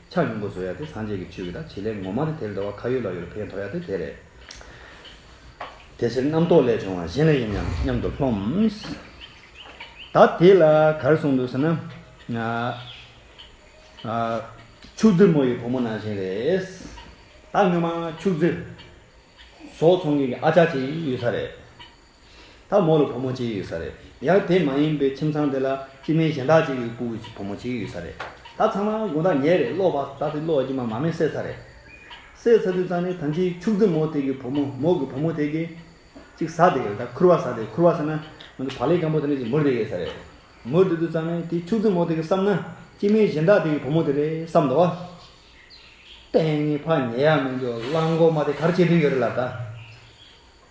ཕྱག་གཡོན་སྒོ་ཟོ་ཡ་དེ་སངས་རྒྱས་ཀྱི་ཆོས་ཀྱི་དང་བྱེད་ལས་ངོ་མ་ནི་དེར་འདོར་བ་ཁ་ཡོད་ལག་ཡོད་ལ་ཕན་ཐོགས་ཡ་དེ་དེ་རེད། དེ་ཕྱིར་རྣམ་རྟོག་ལས་བྱུང་བ་གཞན་ལ་ཡིན་ཡང་མཉམ་དུ་ལྷོངས། ད་དེ་ལ་གར་གསུངས་འདུག་ཟེར་ན། ཕྱུགས་རྫི་མོ་ཡི་བུ་མོ་ནང་བཞིན་རེད། ད་སྔོན་མ་ཕྱུགས་རྫི། ཟོག་ཚོང་མཁན་གྱི་ཨ་ཅག་ཅིག་ཡོད་ས་རེད། ད་མོ་ལ་བུ་མོ་གཅིག་ཡོད་ས་རེད་ཡང་དེ་མ་ཡིན་པའི་ཁྱིམ་ཚང་དེ་ལ་སྤྱི་མེས་གཞན་དག་ཅིག་གི་སྐུ་གི་བུ་མོ་གཅིག་ཡོད་ས་རེད་ད་ཚང་མ་དགུང་དག་ཉལ་རེད་གློག་བ་ད་དེ་གློག་གི་མ་མ་མེ་སད་ཚ་རེད། སད་ཚ་དུས་ཙང་ནས་ཐམས་ཅད་ཕྱུགས་རྫི་མོ་དེ་གི་བུ་མོ་མོ་གི་བུ་མོ་དེ་གི་ཅིག་ཟ་དེ་ཡོད་ད་ཁུར་བ་ཟ་དེ་ཁུར་བ་ཟ་ན་ང་གི་བག་ལེབ་སྐམ་པོ་དེ་འདྲ་ཅིག་མུར་དེ་ཡོད་ས་རེད་མུར་དེ་དུས་ཙང་ནས་དེ་ཕྱུགས་རྫི་མོ་དེ་གི་བསམ་ན་སྤྱི་མེས་གཞན་དག་དེ་གི་བུ་མོ་དེ་རེད་བསམ་དོ། དཔེ་ངའི་ཕ་ཉལ་ཡག་མི་འདུག་གླང་གོག་མ་དེ་གར་སྐྱེལ་དུས་ཡོད་རེད་ལ་ད།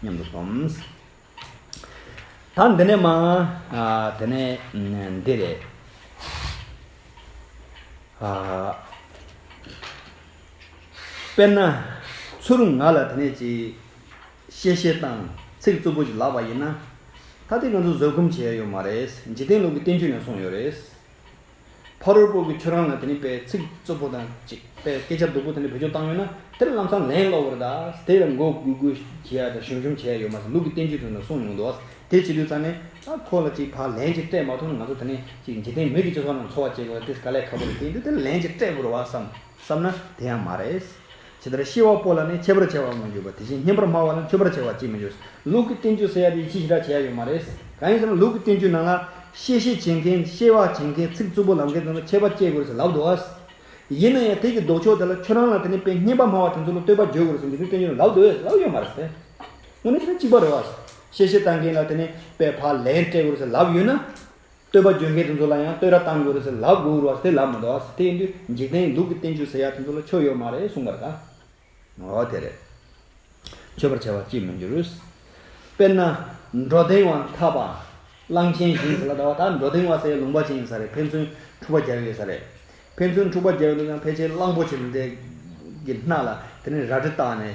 སྙམ་དུ་སོམས། ད་འདི་ནས་མ། དེ་ནས་འདི་རེ། དཔེར་ན། ཚུར་ང་ལ་དེ་ནས་ཅིག། གཤེ་གཤེ་བཏང། ཚིག་རྩུབ་པོ་ཅིག་ལབ་པ་ཡིན་ན། ད་ཐེངས་ང་ཚོ་བཟོད་སྒོམ་བྱས་ཡོད་མ་རེད། འཇིག་རྟེན་ལུགས་ཀྱི་བསྟན་བཅོས་ནས་གསུངས་ཡོད་རེད། ཕ་རོལ་པོ་གི་ཁྱོད་རང་ལ་དེ་ནི་པའི་ཚིག་རྩུབ་པོ་དང་ཅིག་པའི་སྐད་ཆ་སྡུག་པོ་དེ་འདྲ་བེད་སྤྱོད་བཏང་ཡོད་ན་དེར་ལམ་སང་ལན་སློག་གིར་གདའ། དེ་ལ་མགོ་སྒུར་སྒུར་བྱེད་ཡ་དང་ཞུམ་ཞུམ་བྱེད་ཡ་ཡོད་མ་ཟད་ལུག་གི་བསྟན་བཅོས་དུ་ན་གསུངས་མྱོང་འདུག་བ། དེ་བྱེད་དུས་ཚང་ནས་ཨ་ཁོ་ལ་ཅིག་བར་ལན་ཅིག་སྤྲད་མ་ཐུབ་ན་ང་ཚོ་དེ་ནི་ཅིག་འཇིག་རྟེན་མི་གི་སྤྱི་ཚོགས་ནང་འཚོ་བ་སྐྱེལ་དགོས་ལ་དེ་ག་ལས་ཁག་པོ་རེད་བསྟན་དུས་དེར་ལན་ཅིག་སྤྲད་དགོས་རུ་བ་བསམ། བསམ་ན་དེ་ཡང་མ་རེད། ཇི་ལྟར་ཤེས་བ་པོ་ལ་ནི་འཆད་པར་བྱ་བ་དངོས་ཡོད་པ་དེ་བཞིན་ཉན་པར་སྨྲ་བ་ལ་འཆོས་པར་བྱ་བ་གཅིག་མི་འཆོས། ལུགས་ཀྱི་བསྟན་བཅོས་ཟེར་ཡ་དེ་ཡིད་ཆེས་ཞེ་དྲག་བྱེད་ཡ་ཡོད་མ་རེད། གང་ཡིན་ཟེར་ན་ལུགས་ཀྱི་བསྟན་བཅོས་ནང་ལ། ཤེས་བྱེད་བྱེད་མཁན་ཤེས་བ་བྱེད་མཁན་ཚིག་རྩུབ་པོ་ལབ་མཁན་ཚང་མ་འཆད་པ་སྤྱད་དགོས་རེད་ཟེར་ལབ་འདུག་ཨ། ཡིན་ན་ཡང་དེ་ཀྱི་ལྡོག་ཕྱོགས་དེ་ལ་ཁྱོད་རང་ལ་དེ་ནས་དཔེ་སྙན་པ་སྨྲ་བ་དེ་ཚོ་ལ་བསྟོད་པ་བརྗོད་དགོས་རེད་ཟེར་འདི་ཚོའི་བསྟན་བཅོས་ནང་ལབ་འདུག་ཨེ་ལབ་ཡོད་མ་རེད། དངོས་གནས་དེ་ཚོ་གཅིག་པ་རེད་བ། ཤེས་བྱེད་བཏང་མཁན་ལ་དེ་ནས་དཔེ་ཕག་ལན་སྤྲད་དགོས་རེད་ཟེར་ལབ་ཡོད་ན། བསྟོད་པ་བརྗོད་མཁན་དེ་ཚོ་ལ་ཡང་བསྟོད་ར་གཏང་དགོས་རེད་ཟེར་ལབ་དགོས་རེད་དེ་ལབ་མི་འདུག་དེ་ཡིན་དུས་འཇིག་རྟེན་གྱི་སྡུག་གི་བསྟན་བཅོས་ཟེར་ཡག་དེ་ཚོ་ལ་ཆོ་ཡོད་མ་རེད་གསུངས་པར་དགའ། འོ་དེ་རེད། ཆོས་པར་བྱ་བ་ཅིས་མི་འགྱུར། དཔེར་ན། འགྲོ་དེང་བ་འཐབ་པ། གླང་ཆེན་བཞེངས་ཟེར་ལ་ད་བར་ད་འགྲོ་དེང་བ་སའི་ལུང་པ་ཅན་ཡིན་ས་རེད་ཕན་ཚུན་འཁྲུག་པ་རྒྱག་ཡོད་ས་རེད། ཕན་ཚུན་འཁྲུག་པ་རྒྱག་ཡོད་འདུག་ཀྱང་ཕལ་ཆེར་གླང་པོ་ཆེ་འདི་འདྲའི་གི་སྣ་ལ་དེ་ནས་རལ་གྲི་བཏགས་ནས།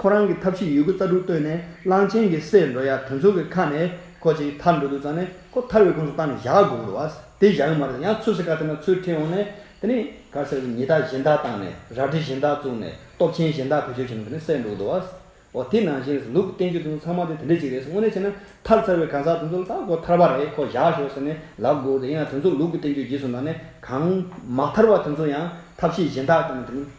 ཁོ་རང་གི་ཐབས་ཤེས་ཡོད་རྒུ་རྩ་དྲུག་བཏོན་ནས་གླང་ཆེན་གྱི་སྲས་འགྲོ་ཡག་དོན་ཚུགས་ཀྱི་ཁ་ནས་ཁོ་ཅིག་ཐར་འགྲོ་དུས་ཙང་ནས་ཁོ་ཐར་བའི་ཁུངས་སུ་བཏང་ནས་བཞག་དགོས་འགྲོ་བ། དེ་བཞག་གི་མ་རེད་ཡང་ཚུར་སེར་ཁ་དེ་ན་ཚུར་ཁྲིད་འོང་ནས་དེ་ནས་གར་སེར་ཉི་ལྟག་གཞན་དག་བཏང་ནས་རལ་གྲི་གཞན་དག་བཙུགས་ནས་སྟོབས་ཆེན་གཞན་དག་བེད་སྤྱོད་བྱས་ན་དེ་ནས་སྲས་འགྲོ་འགྲོ་བ། འོ་དེ་ནང་བཞིན་རེད་ལུག་གི་བསྟན་བཅོས་དེ་ཚོ་ཚང་མ་དེ་དེ་འདྲ་ཅིག་རེད་དངོས་གནས་བྱས་ན་ཐར་ཚར་བའི་གང་ཟག་དེ་ཚོ་ལ་ད་ཁོ་ཐར་བ་རེད་ཁོ་བཞག་ཞོག་ཟེར་ནས་ལབ་དགོས་རེད་ཡིན་ན་དེ་ཚོ་ལུག་གི་བསྟན་བཅོས་རྗེས་སུ་འདང་ནས་གང་མ་ཐར་བ་དེ་ཚོ་ཡང་ཐབས་ཤེས་གཞན་དག་བཏོན་ནས་དེ་ནས།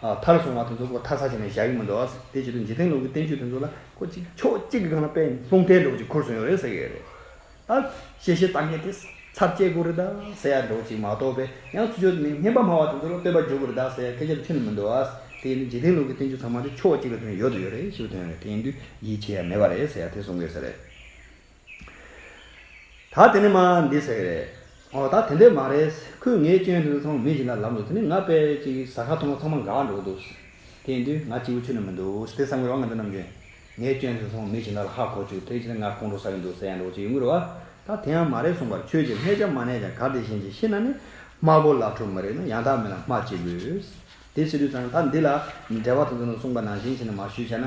མཐར་སོང་བ་དེ་ཚོ་ཁོ་ཐག་ཚགས་བྱས་ནས་བཞག་གི་མི་འདུག་དེ་བྱས་དུས་འཇིག་རྟེན་ལུགས་ཀྱི་བསྟན་བཅོས་དེ་ཚོ་ལ་ཁོ་གཅིག་ཕྱོགས་གཅིག་གི་སྒང་ལ་པད་ལུང་ཐལ་སྒྲོག་ཅིག་འཁུར་སོང་ཡོད་རེད་ཟེར་གྱི་ཡོད་རེད། ད་བཤད་བཤད་གཏམ་འཁྱལ་དེ་ཚར་བཅད་དགོས་རེད་གདའ་ཟེར་ཡག་སྒྲོག་ཅིག་མ་གཏོགས་པའི་ཡང་ཚུལ་འཆོས་དེ་མིན་སྙན་པ་སྨྲ་བ་དེ་ཚོ་ལ་བསྟོད་པ་རྒྱོབ་དགོས་རེད་གདའ་ཟེར་ཡག་སྐད་ཆ་ལ་ཐུག་ནི་མི་འདུག་དེ་ཡིན་དུས་འཇིག་རྟེན་ལུགས་ཀྱི་བསྟན་བཅོས་ཚང་མ་དེ་ཕྱོགས་གཅིག་ལ་དོན་ཡོད་དུ་ཡོད་རེད་ཞེས་པའི་དོན་རེད་དེ་ཡིན་དུས་ཡིད་ཆེས་ཡ་མེད་པ་རེད་ཟེར་ཡག་དེ་གསུང་དགོས་ཟེར་རེད། ད་དེ་ནི་མ་འདི་ཟེར་གི་རེད། ཨོ་ད་དེ་འདྲས་མ་རེད། ཁོས་ངའི་སྤྱན་ཧྲིལ་ཚང་མིད་བཞིན་ལ་ལབ་འདུག་དེ་ནས་ང་དཔེ་ཅིག་ཟ་ཁ་མཐོང་ན་ཚང་མ་འགག་འགྲོ་གི་འདུག། དེ་དུས་ང་སྐྱིད་པོ་ཆུད་ནས་མི་འདུག་དེ་བསམ་གི་རོགས་ང་འདི་ནམ་རྒྱུན་ངའི་སྤྱན་ཧྲིལ་ཚང་མིད་བཞིན་ལ་ལ་ཧ་གོ་བཅུག་དེའི་ཕྱིར་ང་ཁོང་ཁྲོ་ཟ་གི་འདུག་ཟེར་ཡང་འགྲོ་གི་ཅི་ཡོད་ངུས་རོ། ཨ་ད་དེ་ཡང་མ་རེད་གསུངས་པར་ཁྱོད་ཀྱིས་ལྷད་ཆ་མ་ནས་ཀྱང་ག་དེ་བཞིན་གྱིས་ཤི་ན་ནི་སྨྲ་སྒོ་ལག་འཁྲུག་མི་རིགས་ན་ཡང་དག་མིན་ལ་སྨྲ་ཅི་དགོས། དེ་ཕྱི་དུས་ཚང་ད་འདི་ལ་འབྲེལ་བ་དང་འདི་ནས་གསུངས་པ་ནང་བཞིན་བྱས་ན་མ་ཞུས་བྱས་ན།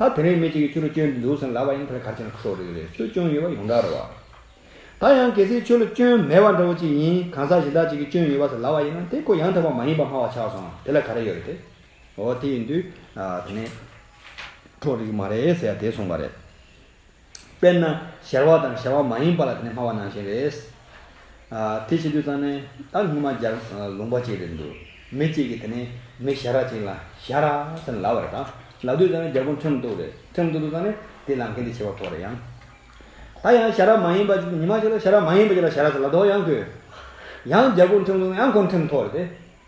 ད་དེ་རིང་མི་གཅིག་གི་ཆོས་ལུགས་སྐྱོན་འདུག་ཟེར་ལབ་པ་ཡང་དེ་ལ་གར་བྱས་ན་ཁྲོ་རེ་རེད་སུ་སྐྱོན་ཡོད་པ་ཡོངས་གྲགས་རེད་བ། ད་ཡང་གལ་སྲིད་ཆོས་ལུགས་སྐྱོན་མེད་བ་འདྲ་བོ་ཅིག་ཡིན་གང་ཟག་གཞན་དག་ཅིག་གི་སྐྱོན་ཡོད་བ་ཟེར་ལབ་པ་ཡིན་ན་དེ་ཁོ་ཡང་དག་པ་མ་ཡིན་པ་སྨྲ་བ་ཆགས་སོང་དེ་ལ་ག་རེ་ཡོད་རེད་དེ། འོ་དེ་ཡིན་དུས། དེ་ནས། ཁྲོ་རིགས་མ་རེད་ཟེར་ཡ་དེས་གསུངས་པ་རེད། དཔེར་ན་གཞར་བ་དང་གཞར་བ་མ་ཡིན་པ་ལ་དེ་ནི་སྨྲ་བ་ནང་བཞིན་རེད། དེ་བྱེད་དུས་ཙང་ནི་ད་སྔོན་མ་སྦྱར་ལུང་པ་ཅིག་རེད་འདུག་མི་གཅིག་གིས་དེ་ནི་མི་གཞར་བ་ཅིག་ལ་གཞར་ར་ཟེར་ནས་ལབ་པ་རེད་ད་ལབ་དུས་ཙང་ནི་རྒྱ་གུང་ཁྲན་ཏུའུ་རེད་ཁྲན་ཏུའུ་དུ་ཙང་ནི་དེ་ལབ་མཁན་དེ་བྱེད་པ་ཕོག་རེད་ཡང། ད་ཡང་གཞར་བ་མ་ཡིན་པ་ཉི་མ་ཅིག་ལ་གཞར་བ་མ་ཡིན་པ་ཅིག་ལ་གཞར་ར་ཟེར་ལབ་དོགས་ཡང་ཁོས། ཡང་རྒྱ་གུང་ཁྲན་ཏུའུ་ཡང་ཁོང་ཁྲན་ཐོག་རེད་དེ།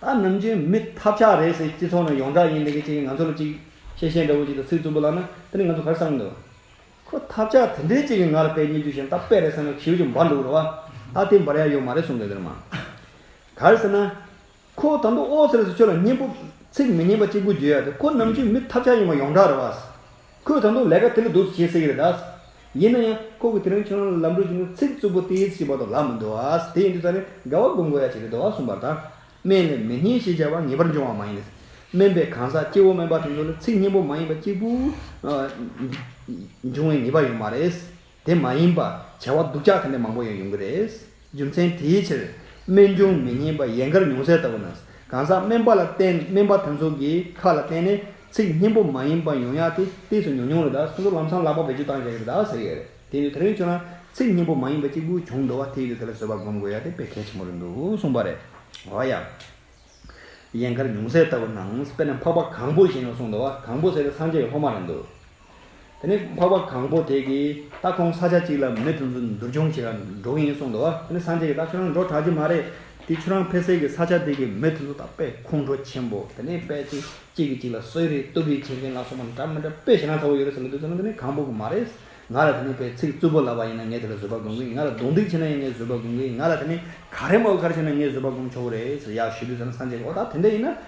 ད་ནམ་རྒྱུན་མི་ཐབས་ཆག་རེད་ཟེར་སྤྱི་ཚོགས་ནང་ཡོངས་གྲགས་ཡིན་འདི་གི་ཅིག་ང་ཚོ་ལ་ཅིག་ཤེས་བཤད་འདྲ་བོ་ཅིག་དང་ཚིག་རྩུབ་པོ་ལབ་ན་དེ་ནི་ང་ཚོ་གར་བསམ་འདོད། ཁོ་ཐབས་ཆག་དེ་འདྲའི་ཅིག་གི་ང་ལ་དཔེ་རྙེད་རྒྱུ་ཞིག་ད་དཔེ་རེད་བསམ་ན་ཁྱེའུ་ཅིག་འབར་འདུག་རེད་བ། ད་དེ་འབར་ཡ་ཡོད་མ་རེད་གསུང་འདོད་དེར་མ། གར་ཟེར་ན། ཁོ་ད་དུང་ཨོ་ཟེར་ཟེར་ཁྱོད་ལ་སྙན་པོ། ཚིག་མི་སྙན་པ་ཅིག་པུ་བརྗོད་ཡ་དེ་ཁོ་ནམ་རྒྱུན་མི་ཐབས་ཆག་ཡིན་པ་ཡོངས་གྲགས་རེད་བ། ཁོས་ད་དུང་ལས་ཀ་དེ་ལས་སྡུག་ཅིག་བྱེད་སྲིད་ཀྱི་རེད་དཱ། ཡིན་ན་ཡང་ཁོ་གིས་དེ་རིང་ཁྱོད་རང་ལ་ལམ་འགྲོ་བཞིན་དུ་ཚིག་རྩུབ་པོ་སྟེ་ཨེ་ཙི་ཞེས་པ་དང་ལག་མི་འདུག་ཨ། དེ་ཡིན་དུས་ད་རེས་དགའ་བ་སྒོམ་དགོས་ཡ་ཅིག་རེད་དཱ་གསུངས་པར་ཐང། སྨན་ལས་མི་སྙན་ཞེས་བྱ་བ་ངེས་པར་འབྱུང་བ་མ་ཡིན། སྨན་པའི་གང་ཟག་སྐྱེ་བོ་སྨན་པ་དེ་ཚོ་ལ་ཚིག་སྙན་པོ་མ་ཡིན་པ་གཅིག་པུ། འབྱུང་བའི་ངེས་པ་ཡོད་མ་རེད། དེ་མ་ཡིན་པར་བྱ་བ་སྡུག་ཅག་དེ་འདྲ་མང་པོ་ཡང་ཡོང་གི་རེད། རྒྱུ་མཚན་དེའི་ཕྱིར། སྨན་ཆུང་མི་སྙན་པ་ཡན་གར་ཉུང་ཟད་ལྟ་བུ་ན། གང་ཟག་སྨན་པ་ལ་བརྟེན་སྨན་པ་དེ་ཚོ་གི་ཁ་ལ་བརྟེན་ནས་ཚིག་སྙན་པོ་མ་ཡིན་པ་ཡོང་ཡག་དེ་ལྟས་སུ་ཉུང་ཉུང་རེད་ད་སོ་སོ་ལམ་སང་ལག་པ་བེད་སྤྱོད་བཏང་བཞག་གི་རེད་ཟེར་གི་རེད་དེ་ཡིན་དུས་དེ་རིང་ཁྱོད་རང་ཚིག་སྙན་པོ་མ་ཡིན་པ་གཅིག་པུ་བྱུང་འགྲོ་བ་དེ་ཡིན་དུས་དེ་ལ་བཟོད་པ་སྒོམ་དགོས་ཡག་དེ་དཔེ་གལ་ཆེན་པོ་རེད་འདུག་གསུངས་པ་རེད། འོ་ཡ། ཡན་གར་ཉུང་ཟད་ལྟ་བུ་ན་དཔེར་ན་འཕགས་པ་གང་པོ་བཞིན་ནོ་གསུངས་འདུག་གང་པོ་ཟེར་ཏེ་སངས་རྒྱས་ཀྱི་སློབ་མ་རེད་འདུག། དེ་ནས་འཕགས་པ་གང་པོ་དེས་ཀྱིས་ད་ཁོང་ས་ཆ་གཅིག་ལ་མི་དུ་ཚོད་འདུར་སྦྱོང་བྱེད་ལ་འགྲོ་གི་ཡིན་གསུངས་འདུག་དེ་ནས་སངས་རྒྱས་ཀྱིས་ད་ཁྱོད་རང་འགྲོ་དྲགས་ཀྱི་མ་རེད་དེ་ཁྱོད་རང་ཕེ་སེ་གི་ས་ཆ་དེ་གི་མི་དེ་ཚོ་ད་དཔེ་ཁོང་ཁྲོ་ཆེན་པོ་དེ་ནས་དཔེ་ཅིག་གཅིག་གིས་གཅིག་ལ་གསོད་རེས་གཏུག་རེས་བྱེད་མཁན་ལ་སོགས་པ་འདྲ་མི་འདྲ་དཔེ་བྱས་ན་ཚ་བོ་ཡོད་རེད་ཟེར་གྱི་འདུག་ཟེར་ན་དེ་ནས་གང་པོ་གིས་མ་རེད། ང་ལ་དེ་ནས་ཕའི་ཚིག་རྩུབ་པོ་ལབ་པ་ཡིན་ན་ངས་དེ་ལ་བཟོད་པ་སྒོམ་གི་ཡིན་ང་ལ་རྡུང་རྡེག་བྱས་ན་ཡང་ངས་བཟོད་པ་སྒོམ་གི་ཡིན་ང་ལ་དེ་ནས་ག་རེ་མ་བོ་ག་རེ་བྱས་ན་ངས་བཟོད་པ་སྒོམ་ཆོག་གི་རེད་ཟེར་ཡག་ཞུས་དུས་ཟེར་ན་སངས་རྒྱས་ཀྱིས་ཨོ་ད་དེ་འདྲ་ཡིན་ན་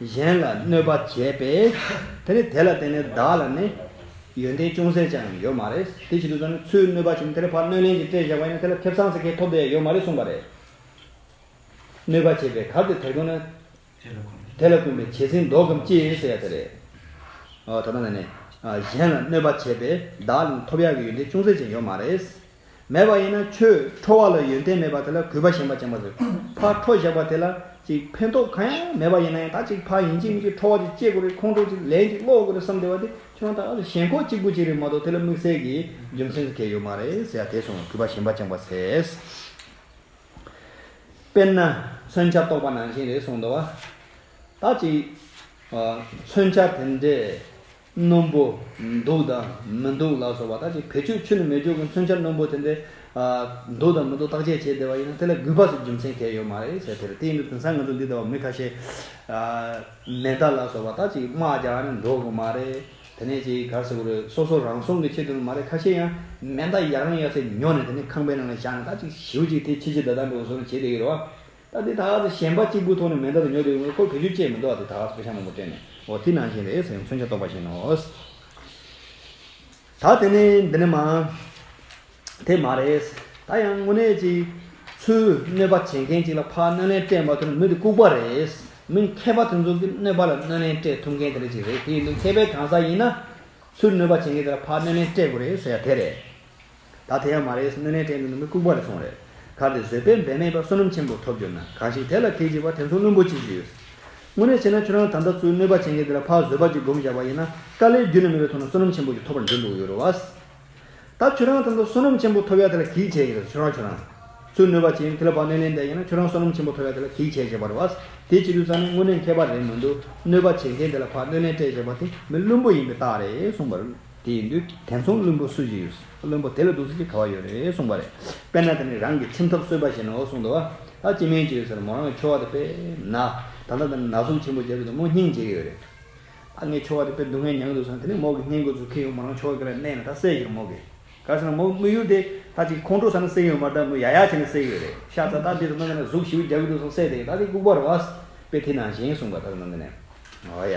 གཞན་ལ་གནོད་པ་བྱས་པས་དེ་ནི་དེ་ལ་བརྟེན་ནས་བདག་ལ་ནི་ཡོན་ཏན་ཅུང་ཟད་ཅང་ཡོད་མ་རེད། དེ་བྱེད་དུ་བཅུག་ན་ཚུལ་གནོད་པ་བྱུང་དེར་ཕར་གནོད་ལན་གྱིས་སྤྲད་བཞག་པ་ཡིན་ན་དེ་ལ་ཐེབས་སངས་ཚེ་ཁའི་ཐོབ་བསྡད་ཡོད་མ་རེད་གསུངས་པ་རེད། གནོད་པ་བྱས་པས་གར་དེ་དེར་འཁོད་ན། དེ་ལ་བསྐུན་པའི་བྱད་བསྲིངས་ཟློག་གམ་ཅི་ཟེར་ཡ་དེ་རེད། ད་ལྟ་ན་ནི། གཞན་ལ་གནོད་པ་བྱས་པས་བདག་ལ་ནི་ཐོབ་ཡག་གི་ཡོན་ཏན་ཅུང་ཟད་ཅང་ཡོད་མ་རེད། མེད་པ་ཡིན་ན་ཁྱོད་ཁྲོ་བ་ལ་ཡོན་ཏན་མེད་པ་དེ་ལ་གུས་པ་ཞེན་པ་ཅན་པ་ཟེར། ཕར་ཁྲོ་བཞག་པ་དེ་ལ་ཅིག་ཕན་ཐོགས་གང་ཡང་མེད་པ་ཡིན་ན་ཡང་དག་ཅིག་ཕར་ཡིན་གཅིག་མིན་གཅིག་ཁྲོ་བ་ཅིག་སྐྱེ་དགོས་རེད་ཁོང་ཁྲོ་ཅིག་ལན་ཅིག་སློག་དགོས་རེད་བསམ་བསྡད་པ་དེ་ཁྱོད་དང་ཨ་ལ་ཞེན་ཁོག་གཅིག་པུ་ཅིག་རེད་མ་གཏོགས་དེ་ལ་དམིགས་བསལ་གྱི་རྒྱུ་མཚན་ཟེར་མཁན་ཡོད་མ་རེད་ཟེར་ཡ་དེ་སོང་ངོ་གུས་པ་ཞེན་པ་ཅན་པ་ཟེར། དཔེར་ན། མཚོན་ཆ་རྟོགས་པ་ནང་བཞིན་རེད་གསུངས་འདུག་བ། དག་ཅིག། མཚོན་ཆ་དེ་འདྲས་རྣོན་པོ་འདུག་དང་མི་འདུག་ལགས་སོ་བ་དག་གིས་བེད་སྤྱོད་ཆུ་ནི་མེ་སྒྱོགས་ཀྱི་མཚོན་ཆ་རྣོན་པོ་དེ་འདྲའི་འདུག་དང་མི་འདུག་བརྟག་དཔྱད་བྱས་བསྡད་པ་ཡིན་ན་དེ་ལ་གུས་པ་སོགས་རྒྱུ་མཚན་གལ་ཡོད་མ་རེད་ཟེར་ཐལ། དེ་ཡིན་དུས་དེང་སང་ང་ཚོ་འདི་ལྟ་བུ་མི་ཁ་ཤས་མེ་མདའ་ལགས་སོ་བ་དག་གིས་དམག་རྒྱག་ནས་འགྲོ་དགོས་མ་རེད། དེ་ནས་ཅིག་གར་ཟེར་དགོས་རེད་སོ་སོ་རང་སྲུང་གི་ཆེད་དུ་ནི་མ་རེད་ཁ་ཤས་ཡང་མེ་མདའ་ཡག་རང་ཡག་ཚེ་ཉོ་ནས་དེ་ནས་ཁང་པའི་ནང་ལ་བཞག་ནས་དག་ཅིག་ཞིའུ་ཅིག་དེ་ཕྱི་ཕྱི་ད་ད་འགྲོ་སོང་བྱས་བསྡད་ཀྱི་རེད་བ། ད་དེ་དག་གིས་ཞེན་པ་གཅིག་པུའི་ཐོག་ནས་མེ་མདའ་དང་ཉོ་དེ་ཁོར་བེད་སྤྱོད་བྱས་མི་འདུག་ཨ་དེ་དག་གིས་ཕོ་བྱང་མང་པོ་སྤྲད་ནས་འོ་ཐིག་ནང་བཞིན་རེད་ཟེར་མཚོན་ཆ་གཏོགས་པ་བཞིན་ནོ། ད་དེ་ནི་འདི་ནི་མ། དེ་མ་རེད། ད་ཡང་དངོས་གནས་ཅིག། ཚུལ་གནོད་པ་བྱེད་མཁན་ཅིག་ལ་ཕ་གནོད་ལན་སྤྲད་མ་ཐུབ་ན་མི་དེ་ལྐུགས་པ་རེད། མི་མཁས་པ་དེ་ཚོ་གིས་གནོད་པ་ལ་གནོད་ལན་སྤྲད་ཐུབ་མཁན་དེ་འདྲ་ཅིག་རེད་དེ་ཡིན་དུས་མཁས་པའི་གང་ཟག་ཡིན་ན། ཚུལ་གནོད་པ་བྱེད་མཁན་དེ་ལ་ཕ་གནོད་ལན་སྤྲད་དགོས་རེད་ཟེར་ཡ་དེ་རེད། ད་དེ་ཡང་མ་རེད་སོང་སྣོད་ནས་དྲན་དུ་ནི་མི་ལྐུགས་པ་རེ་སོང་རེད། གར་དེ་བཟོད་པས་འབད་མེད་པ་བསོད་ནམས་ཆེན་པོ་ཐོབ་གྱུར་ན་གང་ཞིག་དེ་ལ་ཁས་འཇིགས་པ་དེ་མཚུངས་བླུན་པོ་ཅི་ཞིག་ཡོད། དངོས་གནས་བྱས་ན་ཁྱོད་རང་ད་ལྟ་ཚུར་གནོད་པ་བྱེད་མཁན་དེ་ལ་ཕ་བཟོད་པ་ཅིག་སྒོམ་བཞག་པ་ཡིན་ན་དཀའ་ལས་རྒྱུན་ན་མེད་པའི་ཐོག་ན་བསོད་ནམས་ཆེན་པོ་ཅིག་ཐོབ་པར་འགྱུར་འདུག་ཡོད་རེད་བ། ད་ཁྱོད་རང་ད་ལྟ་བསོད་ནམས་ཆེན་པོ་ཐོབ་ཡ་དེ་ལ་གིས་བྱས་ཡིན་རེད་ཁྱོད་རང་ཁྱོད་རང། ཚུར་གནོད་པ་བྱེད་ཡིན་དེ་ལ་ཕ་གནོད་ལན་འདེབས་ཡིན་ན་ཁྱོད་རང་བསོད་ནམས་ཆེན་པོ་ཐོབ་ཡ་དེ་ལ་གིས་བྱས་བྱས་པ་རེད་བ། དེ་བྱེད་དུས་ཙང་ནི་དངོས་གནས་མཁས་པ་རེད་མི་འདུག་གནོད་པ་བྱེད་མཁན་དེ་ལ་ཕ་གནོད་ལན་སྤྲད་བཞག་པ་དེ་མི་བླུན་པོ་ཡིན་པའི་རྟགས་རེད་གསུངས་པ་རེད། དེ་ཡིན་དུས་དེ་མཚུངས་བླུན་པོ་སུ་ཞིག་ཡོད། བླུན་པོ་དེ་ལ་སྡུག་ཟེར་གྱི་ག་བ་ཡོད་རེད་གསུངས་པ་རེད། དཔེར་ན་དེ་ནི་རང་གི་ཁྱིམ་ཐབ་གསོས་པ་ཞིག་ནའོ་གསུངས་འདུག་ཨ། སྐྱེ་དམན་གྱི་ཡོད་ཚད་ལ་མོ་རང་གི་ཁྱོ་བ་དེ་དཔེར་ན། ད་ལྟ་འདི་ནས་ནག་བསུབ་ཆེན་པོ་བྱས་པས་དེ་མོ་སྙིང་རྗེ་གི་ཡོད་རེད། ཨ་ངའི་ཁྱོ་བ་དེ་དཔེར་སྡུག་བསྔལ་མྱང་གི་འདུག་བསམ་དེ་ནས་མོ་གི་བསྙེན་བཀུར་ཚུལ་ཁས་ཡོང་མོ་རང་ཁྱོ་བ་གི་ལ་གནས་ན་ད་བསད་ཤིག་མོ་གི། ག་ཟེར་ན་མོ་དམུས་ཡུལ་དེ་ད་ཅིག་ཁོང་ཁྲོ་ས་ན་བསད་ཡོད་མ་ད་མོ་ཡག་ཡག་བྱས་ནས་བསད་ཀྱི་ཡོད་རེད་ཤ་ཚ་ད་འདི་ད་ནང་གི་ནས་གཟུགས་བཞི་བོ་རྒྱག་གི་འདུག་བསམ་བསད་དེ་གི་ད་དེ་ལྐུགས་པ་རེད་བ། དཔེ་དེ་ནང་བཞིན་གསུངས་པ་ད་ནང་གི་ནས། ཨ་ཡ།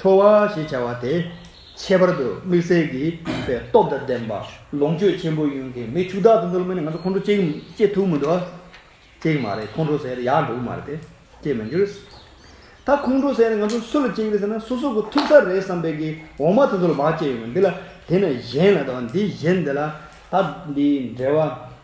ཁྲོ་བ་ཞེས་བྱ་བ་དེ། ཁྱད་པར་དུ་མིག་གསལ་གྱི་རིག་པའི་སྟོབས་དང་ལྡན་པ་ལོངས་སྤྱོད་ཆེན་པོ་ཡུན་གྱི་མི་ཕྱུགས་བདག་ཏུ་འདུལ་མི་ནི་ང་ཚོ་ཁོང་ཁྲོ་སྐྱེས་ཐུབ་མི་འགྲོ། སྐྱེས་མ་རེད་ཁོང་ཁྲོ་ཟེར་ཡག་འགྲོ་གི་མ་རེད་དེ་སྐྱེས་མི་འགྱུར། ད་ཁོང་ཁྲོ་ཟེར་ནས་ང་ཚོ་སུ་ལ་སྐྱེས་ཀྱི་རེད་ཟེར་ན་སོ་སོ་གི་ཐུབ་ས་རེད་བསམ་པའི་གི་འོག་མ་དེ་ཚོ་ལ་བག་སྐྱེས་ཡོང་གི་འདི་ལ་དེ་ནས་གཞན་ལ་དང་འདི་གཞན་དེ་ལ་ད་འདིའི་འབྲེལ་བ།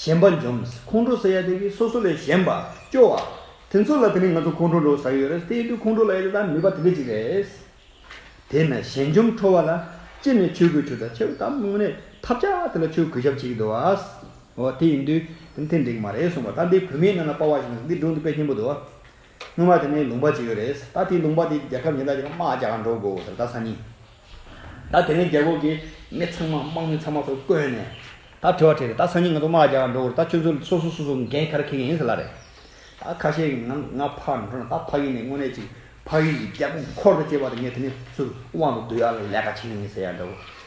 གཞན་པ་འཇོམས། ཁོང་ཁྲོ་ཟ་ཡ་དེ་གིས་སོ་སོ་ལས་གཞན་པ་སྐྱོ་བ། དེ་ཚོ་ལ་དེ་ནི་ང་ཚོ་ཁོང་ཁྲོ་འགྲོ་ཟ་གི་ཡོད་རེད་དེ་ཡིན་དུས་ཁོང་ཁྲོ་ལ་ཡ་དེ་དག་ནུས་པ་དེ་འདྲ་ཅིག་རེད། དེས་ན་གཞན་འཇོམས་ཁྲོ་བ་ལ་སྤྱིར་ནས་ཆོས་གོས་ཆུ་ཟ་ཆེ་བ་དང་དངོས་གནས་ཐབས་ཆག་དེ་ལ་ཆོས་གོས་ཞབས་བྱེད་ཀྱི་འདུག་བ། དེ་ཡིན་དུས་དེ་ནི་ཐེངས་འདྲེ་གི་མ་རེད་གསུངས་པ་ལྟར་འདི་བོད་མིའི་ནང་ན་དཔའ་བ་ཞིག་ན་འདི་སྒྲུང་འདི་དཔེ་ཆེན་པོ་འདུག་བ། སྔོན་མ་དེ་ནས་ལུང་པ་བྱེད་ཡོད་རེད། ད་དེའི་ལུང་པ་དེ་རྒྱལ་ཁབ་ཉེན་བརྡ་བྱེད་ན་དམག་རྒྱག་འགྲོ་དགོས་ཟེར་ད་ས་ནི། ད་དེ་ནས་རྒྱལ་ཁོག་གི་མི་ཚང་མ་དམག་མི་ཚང་མ་ཚོ་བསྐོས་ནས། ད་དྲི་བ་དྲིས་རེད་ད་ས་ནི་ང་ཚོ་དམག་རྒྱག་འགྲོ་དགོས་རེད་ད་ཁྱོད་ཚོ་སོ་སོ་སོ་སོ་འགན་ཁར་འཁེལ་གི་ཡིན་ཟེར་ལ་རེད། ད་ཁ་ཤས་ཀྱིས་ང་ང་ཕར་འགྲོ་ན་ད་ཕ་ཡུལ་ནས་དངོས་གནས་ཅིག་ཕ་ཡུལ་གྱི་རྒྱལ་པོ་འཁོར་དུ་བཅུག་པ་དང་ངས་དེ་ནས་ཚུར་དབང་དུ་བསྡུ་ཡག་ལས་ཀ་བྱེད་ངེས་ཡིན་ཟེར་ཡག་འདྲ་བོ།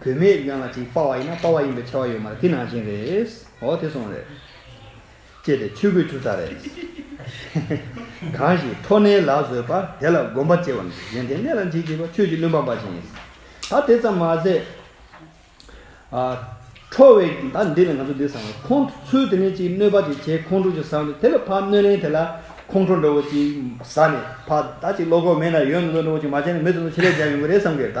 བུད་མེད་གཞན་ལ་ཅིག་དཔའ་བ་ཡིན་ན་དཔའ་བ་ཡིན་པའི་ཆེ་བ་ཡོད་མ་རེད་དེ་ནང་བཞིན་རེད་འོ་དེ་སོང་རེད། ཅེས་ཏེ་ཆོས་གོས་བྱུགས་ཚར་རེད། གང་ཞིག་མཐོ་གནས་ལ་བཟོད་པ་དེ་ལ་སྒོམ་པ་སྐྱེ་བ་འདུག་གཞན་དེ་གནས་ལ་འཇིགས་བྱེད་པ་ཆོས་ཀྱི་བློན་པ་འབའ་ཞིག་ཡིན། ད་དེ་ཙམ་མ་ཟད། ཁྲོ་བའི་ད་འདི་ལ་ང་ཚོ་འདི་བསམ་རོགས་ཁོང་ཚོས་དེ་ནས་ཅིག་གནོད་པ་ཅིག་བྱས་ཁོང་ཁྲོ་ཅིག་བཟའ་འདུག་དེ་ལ་ཕ་གནོད་ལན་དེ་ལ་ཁོང་ཁྲོ་འདྲ་བོ་ཅིག་བཟའ་ནས་ཕ་ད་ཅིག་བློ་ཁོག་མེད་ན་ཡོད་ན་འདུག་འདྲ་བོ་ཅིག་མ་བྱས་ན་མི་ཚོ་ཚོ་ཆེད་ལས་བྱས་ཡོང་གི་རེད་བསམ་གི་རེད་ད།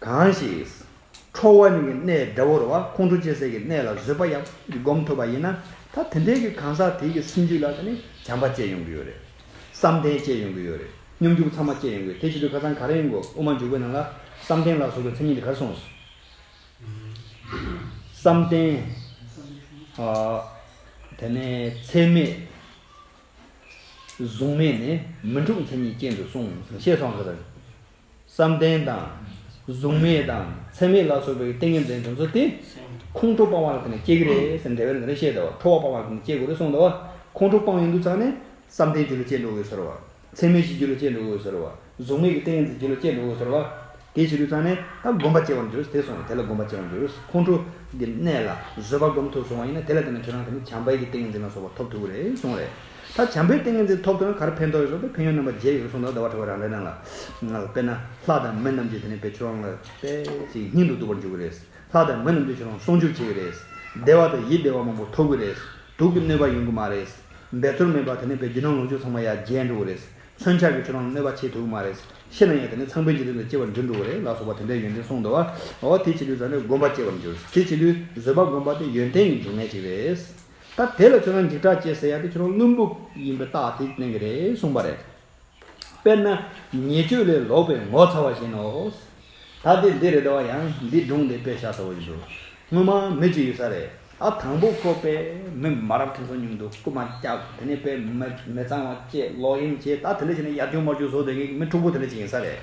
གང་ཞིག། ཁྲོ་བ་ཉིད་ཀྱི་གནས་དགྲ་བོར་བ་ཁོང་ཁྲོ་སྐྱེ་སའི་གི་གནས་ལ་བཟོད་པ་ཡང་བསྒོམ་ཐུབ་པ་ཡིན་ན་ད་དེ་འདྲའི་གི་གང་ཟག་དེའི་གི་སེམས་རྒྱུད་ལ་དེ་ནི་བྱམས་པ་སྐྱེ་ཡོང་གི་ཡོད་རེད། བསམ་གཏན་སྐྱེ་ཡོང་གི་ཡོད་རེད། སྙོམས་འཇུག་ཚང་མ་སྐྱེ་ཡོང་གི་ཡོད་དེ་བྱེད་དུས་ཁ་ཚང་ག་རེ་ཡོང་དགོས་དབུ་མ་འཇུག་པའི་ནང་ལ་བསམ་གཏན་ལ་སོགས་པའི་མཚན་ཉིད་དེ་གར་སོང་ཟེར། བསམ་གཏན། དེ་ནས་ཚད་མེད། གཟུང་མེད་ནི་མི་འཁྲུགས་མཚན་ཉིད་ཅན་དུ་སོང་ཞེས་སོགས་ཟེར། བསམ་གཏན་དང། གཟུགས་མེད་དང་མཚན་མེད་ལ་སོགས་པའི་ཏིང་ངེ་འཛིན་དྲན་ཚུལ་ཏེ། ཁོང་ཁྲོ་སྤང་བ་ལ་དེ་ནས་སྐྱེ་གི་རེད་ཟེར་འདས་པའི་ལན་རེ་བཤད་ཟླ་བ་ཁྲོ་བ་སྤང་བ་ལ་དེ་ནས་སྐྱེ་དགོས་རེད་གསུངས་ཟླ་བ་ཁོང་ཁྲོ་སྤང་ཡོད་འདུག་ཚར་ནས། བསམ་གཏན་རྒྱུ་ལ་སྐྱེ་འགྲོ་འོས་ཟེར་བ། མཚན་མེད་བཞི་རྒྱུ་ལ་སྐྱེ་འགྲོ་འོས་ཟེར་བ། གཟུགས་མེད་ཀྱི་ཏིང་ངེ་འཛིན་རྒྱུ་ལ་སྐྱེ་འགྲོ་འོས་ཟེར་བ། དེ་བྱེད་དུས་ཚར་ནས་ད་སྒོམ་པ་སྐྱེ་བར་འགྱུར་དེ་གསུངས་བ་དེ་ལ་སྒོམ་པ་སྐྱེ་བར་འགྱུར་ཁོང་ཁྲོ་གི་གནས་ལ་བཟོད་པ་སྒོམ་ཐུབ་སོང་བ་ཡིན་ན་དེ་ལ་བརྟེན་ནས་ཁྱོད་རང་དེ་ནས་བྱམས་པའི་ཀྱི་ཏིང་ངེ་འཛིན་ལ་སོགས་པ་ཐོབ་ཐུབ་གི་རེད་གསུངས་རེད། ད་བྱམས་པོའི་ཏིང་ངེ་འཛིན་ཐོབ་དོན་གར་ཕན་ཐོགས་ཡོད་སོགས་ཀྱི་ཕན་ཡོན་རྣམ་པ་བརྒྱད་ཡོད་གསུངས་དང་ཟླ་བ་ཁྲི་བ་རང་རེ་རང་ལ་དཔེར་ན་ལྷ་དང་མི་རྣམས་ཀྱི་དེ་ནས་པའི་ཆོས་ལོངས་ལ་དཔལ་གྱི་སྙིང་དུ་སྡུག་པར་འཇུག་གི་རེད། ལྷ་དང་མི་རྣམས་ཀྱི་ཆོས་ལོངས་སྲུང་སྐྱོབ་བྱེད་ཀྱི་རེད། བདེ་བ་དང་ཡིད་བདེ་བ་མང་པོ་ཐོབ་གི་རེད། དུག་གི་གནོད་པ་ཡོང་གི་མ་རེད། འབད་རྩོལ་མེད་པར་དེ་ནས་པའི་རྒྱུ་ནོར་ལོངས་སྤྱོད་ཚང་མ་ཡར་རྒྱས་འགྲོ་གི་རེད། མཚོན་ཆ་གི་ཆོས་ལོངས་ལ་གནོད་པ་བྱེད་ཐུབ་གི་མ་རེད། ཤི་ན་ཡང་དེ་ནས་ཚངས་པའི་འཇིག་རྟེན་དུ་སྐྱེ་བ་འབྲི་འགྲོ་གི་རེད་ལ་སོགས་པ་དེ་འདྲའི་ཡོན་ཏན་གསུངས་འདུག་བ། འོ་དེ་བྱེད་ལུས་བཟང་ནས་སྒོམ་པ་སྐྱེ་བར་འགྱུར། དེ་བྱེད་ལུས་བཟོད་པ་སྒོམ་པ་དེ་ཡོན་ཏན་གྱི་འབྱུང་གནས་གཅིག་རེད། ད་དེ་ལ་ཁྱོད་རང་འཇིགས་སྐྲག་སྐྱེ་ཟེར་ཡག་དེ་ཁྱོད་རང་བླུན་པོ་ཡིན་པའི་རྟགས་དེ་གནང་གི་རེད་གསུངས་པ་རེད། དཔེར་ན་ཉེས་སྤྱོད་ལས་ལོག་པའི་ངོ་ཚ་བ་བཞིན་ནོ། ད་དེ་འདི་རེད་དོ་ཡང་འདི་སྒྲུང་འདི་དཔེ་ཆ་ཟ་བོ་ཡིན་འདུག་སྔོན་མ་མི་གཅིག་ཡོད་ས་རེད་ཨ་དང་པོ་ཁོ་དཔེ་མི་མ་རབས་ཕྲན་ཚོགས་ཉུང་འདུག་རྐུ་མ་བརྒྱབ་དེ་ནས་དཔེ་མི་མི་གཙང་བ་བཅས་ལོག་གཡེམ་བྱས་ད་དེ་ལས་ཅི་ན་ཡར་རྒྱུག་མར་རྒྱུག་བཟོ་དེ་གའི་མི་འཁྲུག་པོ་དེ་ལས་ཅིག་ཡིན་ས་རེད།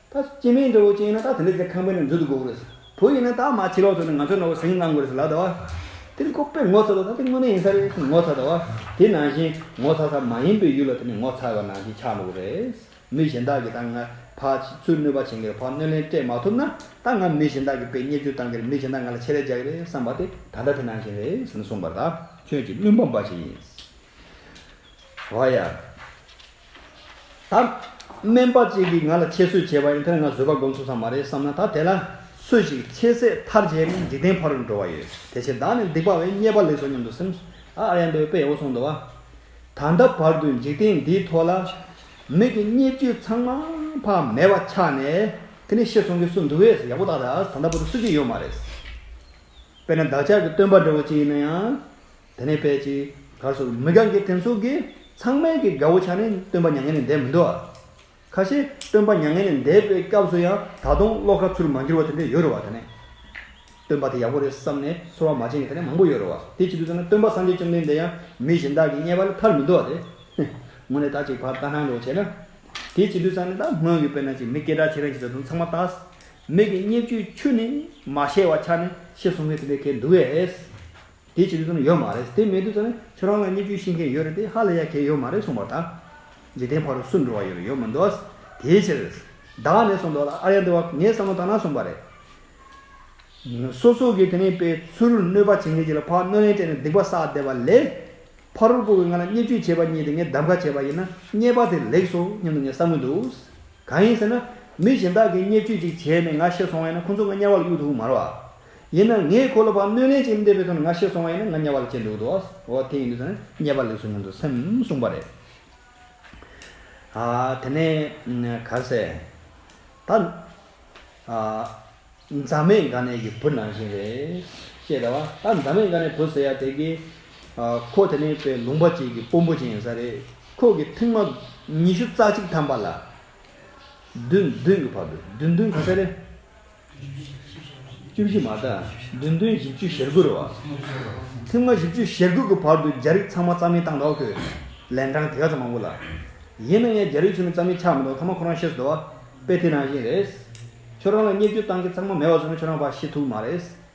ད་སྐྱེ་མེད་འདྲ་བོ་ཅན་ཡིན་ན་ད་དེ་འདྲ་ཚེ་ཁང་པའི་ནང་འཛུལ་དུ་དགོས་པོ་རེད། བུ་ཡིན་ན་ད་མ་འཆི་ལོག་ཚོ་ནི་ང་ཚོའི་ནོར་བུ་ཟིང་བསླང་དགོས་རེད་ལབ་ད་བ། དེ་ནི་ཁོ་པས་ངོ་ཚ་བའི་ད་དེ་དངོས་གནས་ཡིན་ས་རེད་ངོ་ཚ་ད་བ། དེ་ནང་བཞིན་ངོ་ཚ་ས་མ་ཡིན་པའི་ཡུལ་ལ་དེ་ནི་ངོ་ཚ་བའི་ནང་བཞིན་ཆགས་འགྲོ་གི་རེད། མི་གཞན་དག་གིས་ད་ང་ཕར་ཕྱིན་ཚུལ་གནོད་པ་བྱེད་ཀྱི་རེད་ཕར་གནོད་ལན་སྤྲད་མ་ཐུབ་ན་ད་ང་མི་གཞན་དག་གི་པའི་བརྙས་བཅོས་བཏང་གི་རེད་མི་གཞན་དག་ང་ལ་ཆེད་ལས་རྒྱག་གི་རེད་བསམ་པ་དེ་ད་ལྟ་དེ་ནང་བཞིན་རེད་ཟེར་ནས་གསུངས་པར་ད་ཁྱོད་ཀྱིས་བླུན་པོ་འབའ་ཞིག་ཡིན། བ་ཡ། ད། སྨན་པ་གཅིག་གིས་ང་ལ་ཁྱད་གསོད་བྱས་པ་ཡིན་དེར་ང་བཟོད་པ་སྒོམ་ཚུགས་ས་མ་རེད་བསམ་ན་ད་དེ་ལ་སོད་ཅིག་ཁྱེད་ཟད་མཐར་བརྗེད་ནས་འཇིག་རྟེན་ཕ་རུ་འགྲོ་བ་ཡོད་དེ་ཕྱིར་བདག་ནི་སྡིག་པ་བས་རྙེད་པ་ལེགས་སོ་སྙམ་དུ་སེམས། ཨ་ཨ་ཡ་འདོད་པས་འོ་སོང་འདོད་བ། ད་ལྟ་བར་དུ་འཇིག་རྟེན་འདིའི་ཐོག་ལ། མིག་གི་རྙེད་བཅུད་ཚང་མ་ཕ་མེས་པ་ཆགས་ནས་དེ་ནི་ཤི་སོང་གི་སུ་འདུག་བས་ཡག་པོ་བརྟག་ད་ད་ལྟ་བར་དུ་སུ་གཅིག་ཡོད་མ་རེད། དཔེར་ན་བདག་ཅག་གི་སྟོན་པ་འདྲ་བོ་གཅིག་ཡིན་ན་ཡང། དེ་ནས་དཔལ་གྱི་གར་སོགས་མི་གང་གི་དྲིན་སོགས་ཀྱིས་ཚང་མལ་གྱི་དགའ་བོ་ཆགས་ནས་སྟོན་པ་མྱ་ངན་ལས་འདས་མི་འདུག་ཨ། ཁ་ཤས་སྟོན་པ་མྱ་ངན་ལས་འདས་པའི་སྐབས་སུ་ཡང་ད་དུང་བློ་ཁ་ཚུར་མ་འགྱུར་བ་དེ་འདྲ་ཡོད་རུང་བ་དེ་ནས། སྟོན་པ་དེ་ཡག་པོ་རེད་བསམ་ནས་ཚོར་བ་མ་བྱིན་གྱི་དེ་ནས་མང་པོ་ཡོད་རུང་བ་དེ་བྱེད་དུས་ཚང་མལ་སྟོན་པ་སངས་རྒྱས་བཅོམ་ལྡན་འདས་ཡང་མི་གཞན་དག་གིས་བརྙས་པ་ལས་ཐར་མི་འདུག་ཨ། དེ་ཧེ། དངོས་གནས་ད་ཅིག་བར་ལྟ་སྣང་འགྲོ་བྱས་ན། དེ་བྱེད་དུས་ཚང་མལ་ད་སྔོན་གྱི་དཔེར་ན་ཅིག་མི་སྐད་གྲགས་ཆེ་རན་གྱི་ད་དུང་ཚང་མ་ལྟ། མིག་གི་བརྙས་བཅོས་ཆུ་ནི་མ་ཤེས་བ་ཆགས་ནས་ཤེས་སོང་ངས་དེ་འདྲའི་གལ་འདུག་ཨེ། དེ་བྱེད་རྒྱུ་ཙམ་ཡོད་མ་རེད་དེ་མེད་དུས་ཙམ་ནས་ཁྱོད་རང་ལ་བརྙས་བཅོས་ཤིས་མཁན་ཡོད་རེད་དེ་ཧ་ལས་ཡ་གས་ཡོད་མ་རེད་གསུངས་པ་དང། འཇིག་རྟེན་ཕ་རོལ་སུ་འགྲོ་བ་ཡོད་རེད་ཡོད་མི་འདུག་དེའི་ཕྱིར། བདག་ནས་གསུངས་འདུག་ལ་ཨ་ར་ཡ་འདི་བ་ངས་བསམ་བློ་བཏང་ན་གསུངས་པ་རེད། སོ་སོ་གས་དེ་ནས་པའི་ཚུར་གནོད་པ་བྱེད་མཁན་གྱི་ལ་ཕ་གནོད་ལན་སྤྲད་ནས་སྡིག་པ་བསགས་བསྡད་པ་ལས། ཕ་རོལ་པོ་བས་ང་ལ་བརྙས་བཅོས་བྱས་པ་རྙེད་དེ་ངས་བདམས་ཁ་བྱས་པ་ཡིན་ན་རྙེད་པ་དེ་ལེགས་སོ་སྙམ་དུ་ངས་བསམ་གྱི་འདུག་གང་ཡིན་ཟེར་ན། མི་གཞན་དག་གིས་བརྙས་བཅོས་ཅིག་བྱས་ནས་ང་ཤི་སོང་བས་ན་ཁོ་ཚོ་ང་དམྱལ་བ་ལ་གཡུག་ཐུབ་ཀྱི་མ་རེད་བ། ཡིན་ན་ངས་ཁོ་ལ་བག་གནོད་ལེན་བྱེད་མི་འདོད་པའི་དོན་ང་ཤེས་སོང་བ་ཡིན་ན་ང་དམྱལ་བ་ལ་སྐྱེས་འདུག་དོ། འོ་དེ་ཡིན་དུས་ད་ནི་དམྱལ་བ་ལེགས་སོ་སྙམ་དུ་སེམས་གསུངས་པ་རེད། ཨ། དེ་ནས་གར་སས། ད། ཨ། མཛའ་མེད་འགའ་ནས་ཀྱི་བུ་ནང་བཞིན་རེད། ཤེས་དང་བ། ད་མཛའ་མེད་འགའ་ནས་བུ་ཟེར་ཡ་དེ་གི། ཨ། ཁོ་དེ་ནས་པའི་ལུང་པ་གཅིག་གི་དཔོན་པོ་ཅན་ཡིན་ས་རེད། ཁོ་གི་ཐེངས་མ། ཉི་ཤུ་རྩ་གཅིག་ཐམ་པ་ལ། བདུན་བདུན་གི་བར་དུ་བདུན་བདུན་ག་ཚད་རེད། བཅུ་བཞི་མ་དག་བདུན་སྟོང་བཞི་བཅུ་ཞེར་དགུ་རུ། ཐེངས་ལྔ་བཞི་བཅུ་ཞེར་དགུ་གི་བར་དུ་རྒྱ་རིགས་ཚང་མ་རྩ་མེད་བཏང་དོགས་དུས། ལན་གྲངས་དེ་ག་ཚོད་མང་པོ་ལ། ཡིན་ན་ཡང་རྒྱ་རིགས་ཚོ་ནི་རྩ་མེད་ཆགས་མི་འདུག་ཐ་མ་ཁོ་རང་ཤེས་སུ་དོ། དཔེ་དེ་རང་བཞིན་རེད། ཁྱོད་རང་ལ་བསྙད་བརྒྱུད་བཏང་མཁན་ཚང་མ་མེད་བ་ཚོ་ནི་ཁྱོད་རང་བ་ཤེས་ཐུབ་ཀྱི་མ་རེད།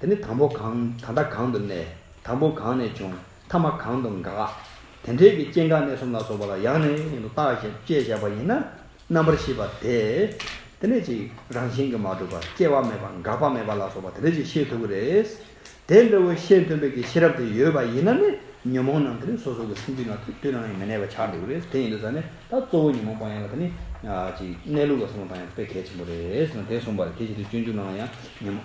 དེ་ནི་དང་པོ་གང་ད་ལྟ་གང་དུ་གནས། དང་པོ་གང་ནས་བྱུང་ཐ་མ་གང་དུ་འགག། དེ་འབྲེལ་གྱི་སྐྱེ་འགག་གནས་གསུམ་ལ་སོགས་པ་ལ་ཡང་ནི་ཡང་དུ་བརྟགས་ཤིང་དཔྱད་བཞག་པ་ཡིན་ན་རྣམ་པར་ཤེས་པ་དེ། དེ་ནས་ཅིག་རང་བཞིན་གྱིས་མ་གྲུབ་པར་སྐྱེ་བ་མེད་པ་འགག་པ་མེད་པ་ལ་སོགས་པ་དེ་འདྲ་ཅིག་ཤེས་ཐུབ་ཀྱི་རེད། དེ་འདྲ་བའི་ཤེས་འདོད་འདོད་ཀྱི་ཤེས་རབ་དེ་ཡོད་པ་ཡིན་ན་ནི་ཉོན་མོངས་རྣམས་དེ་ནི་སོ་སོ་གི་སེམས་རྒྱུད་ནང་དུ་དུས་རང་ཡང་མི་གནས་པ་ཆགས་འགྲོ་གི་རེད་དེ་ཡིན་དུས་ད་ནི་ད་གཙོ་བོ་ཉོན་མོངས་སྤང་ཡང་ལ་དེ་ནི། ཅིག་གནས་ལུགས་ལ་སོགས་པ་སྤང་ཡང་དཔེ་གལ་ཆེན་པོ་རེད། དེ་གསུངས་པ་ལ་དེ་བཞིན་དུ་སྤྱོད་འཇུག་རྣམས་ལ་ཡང་ཉོན།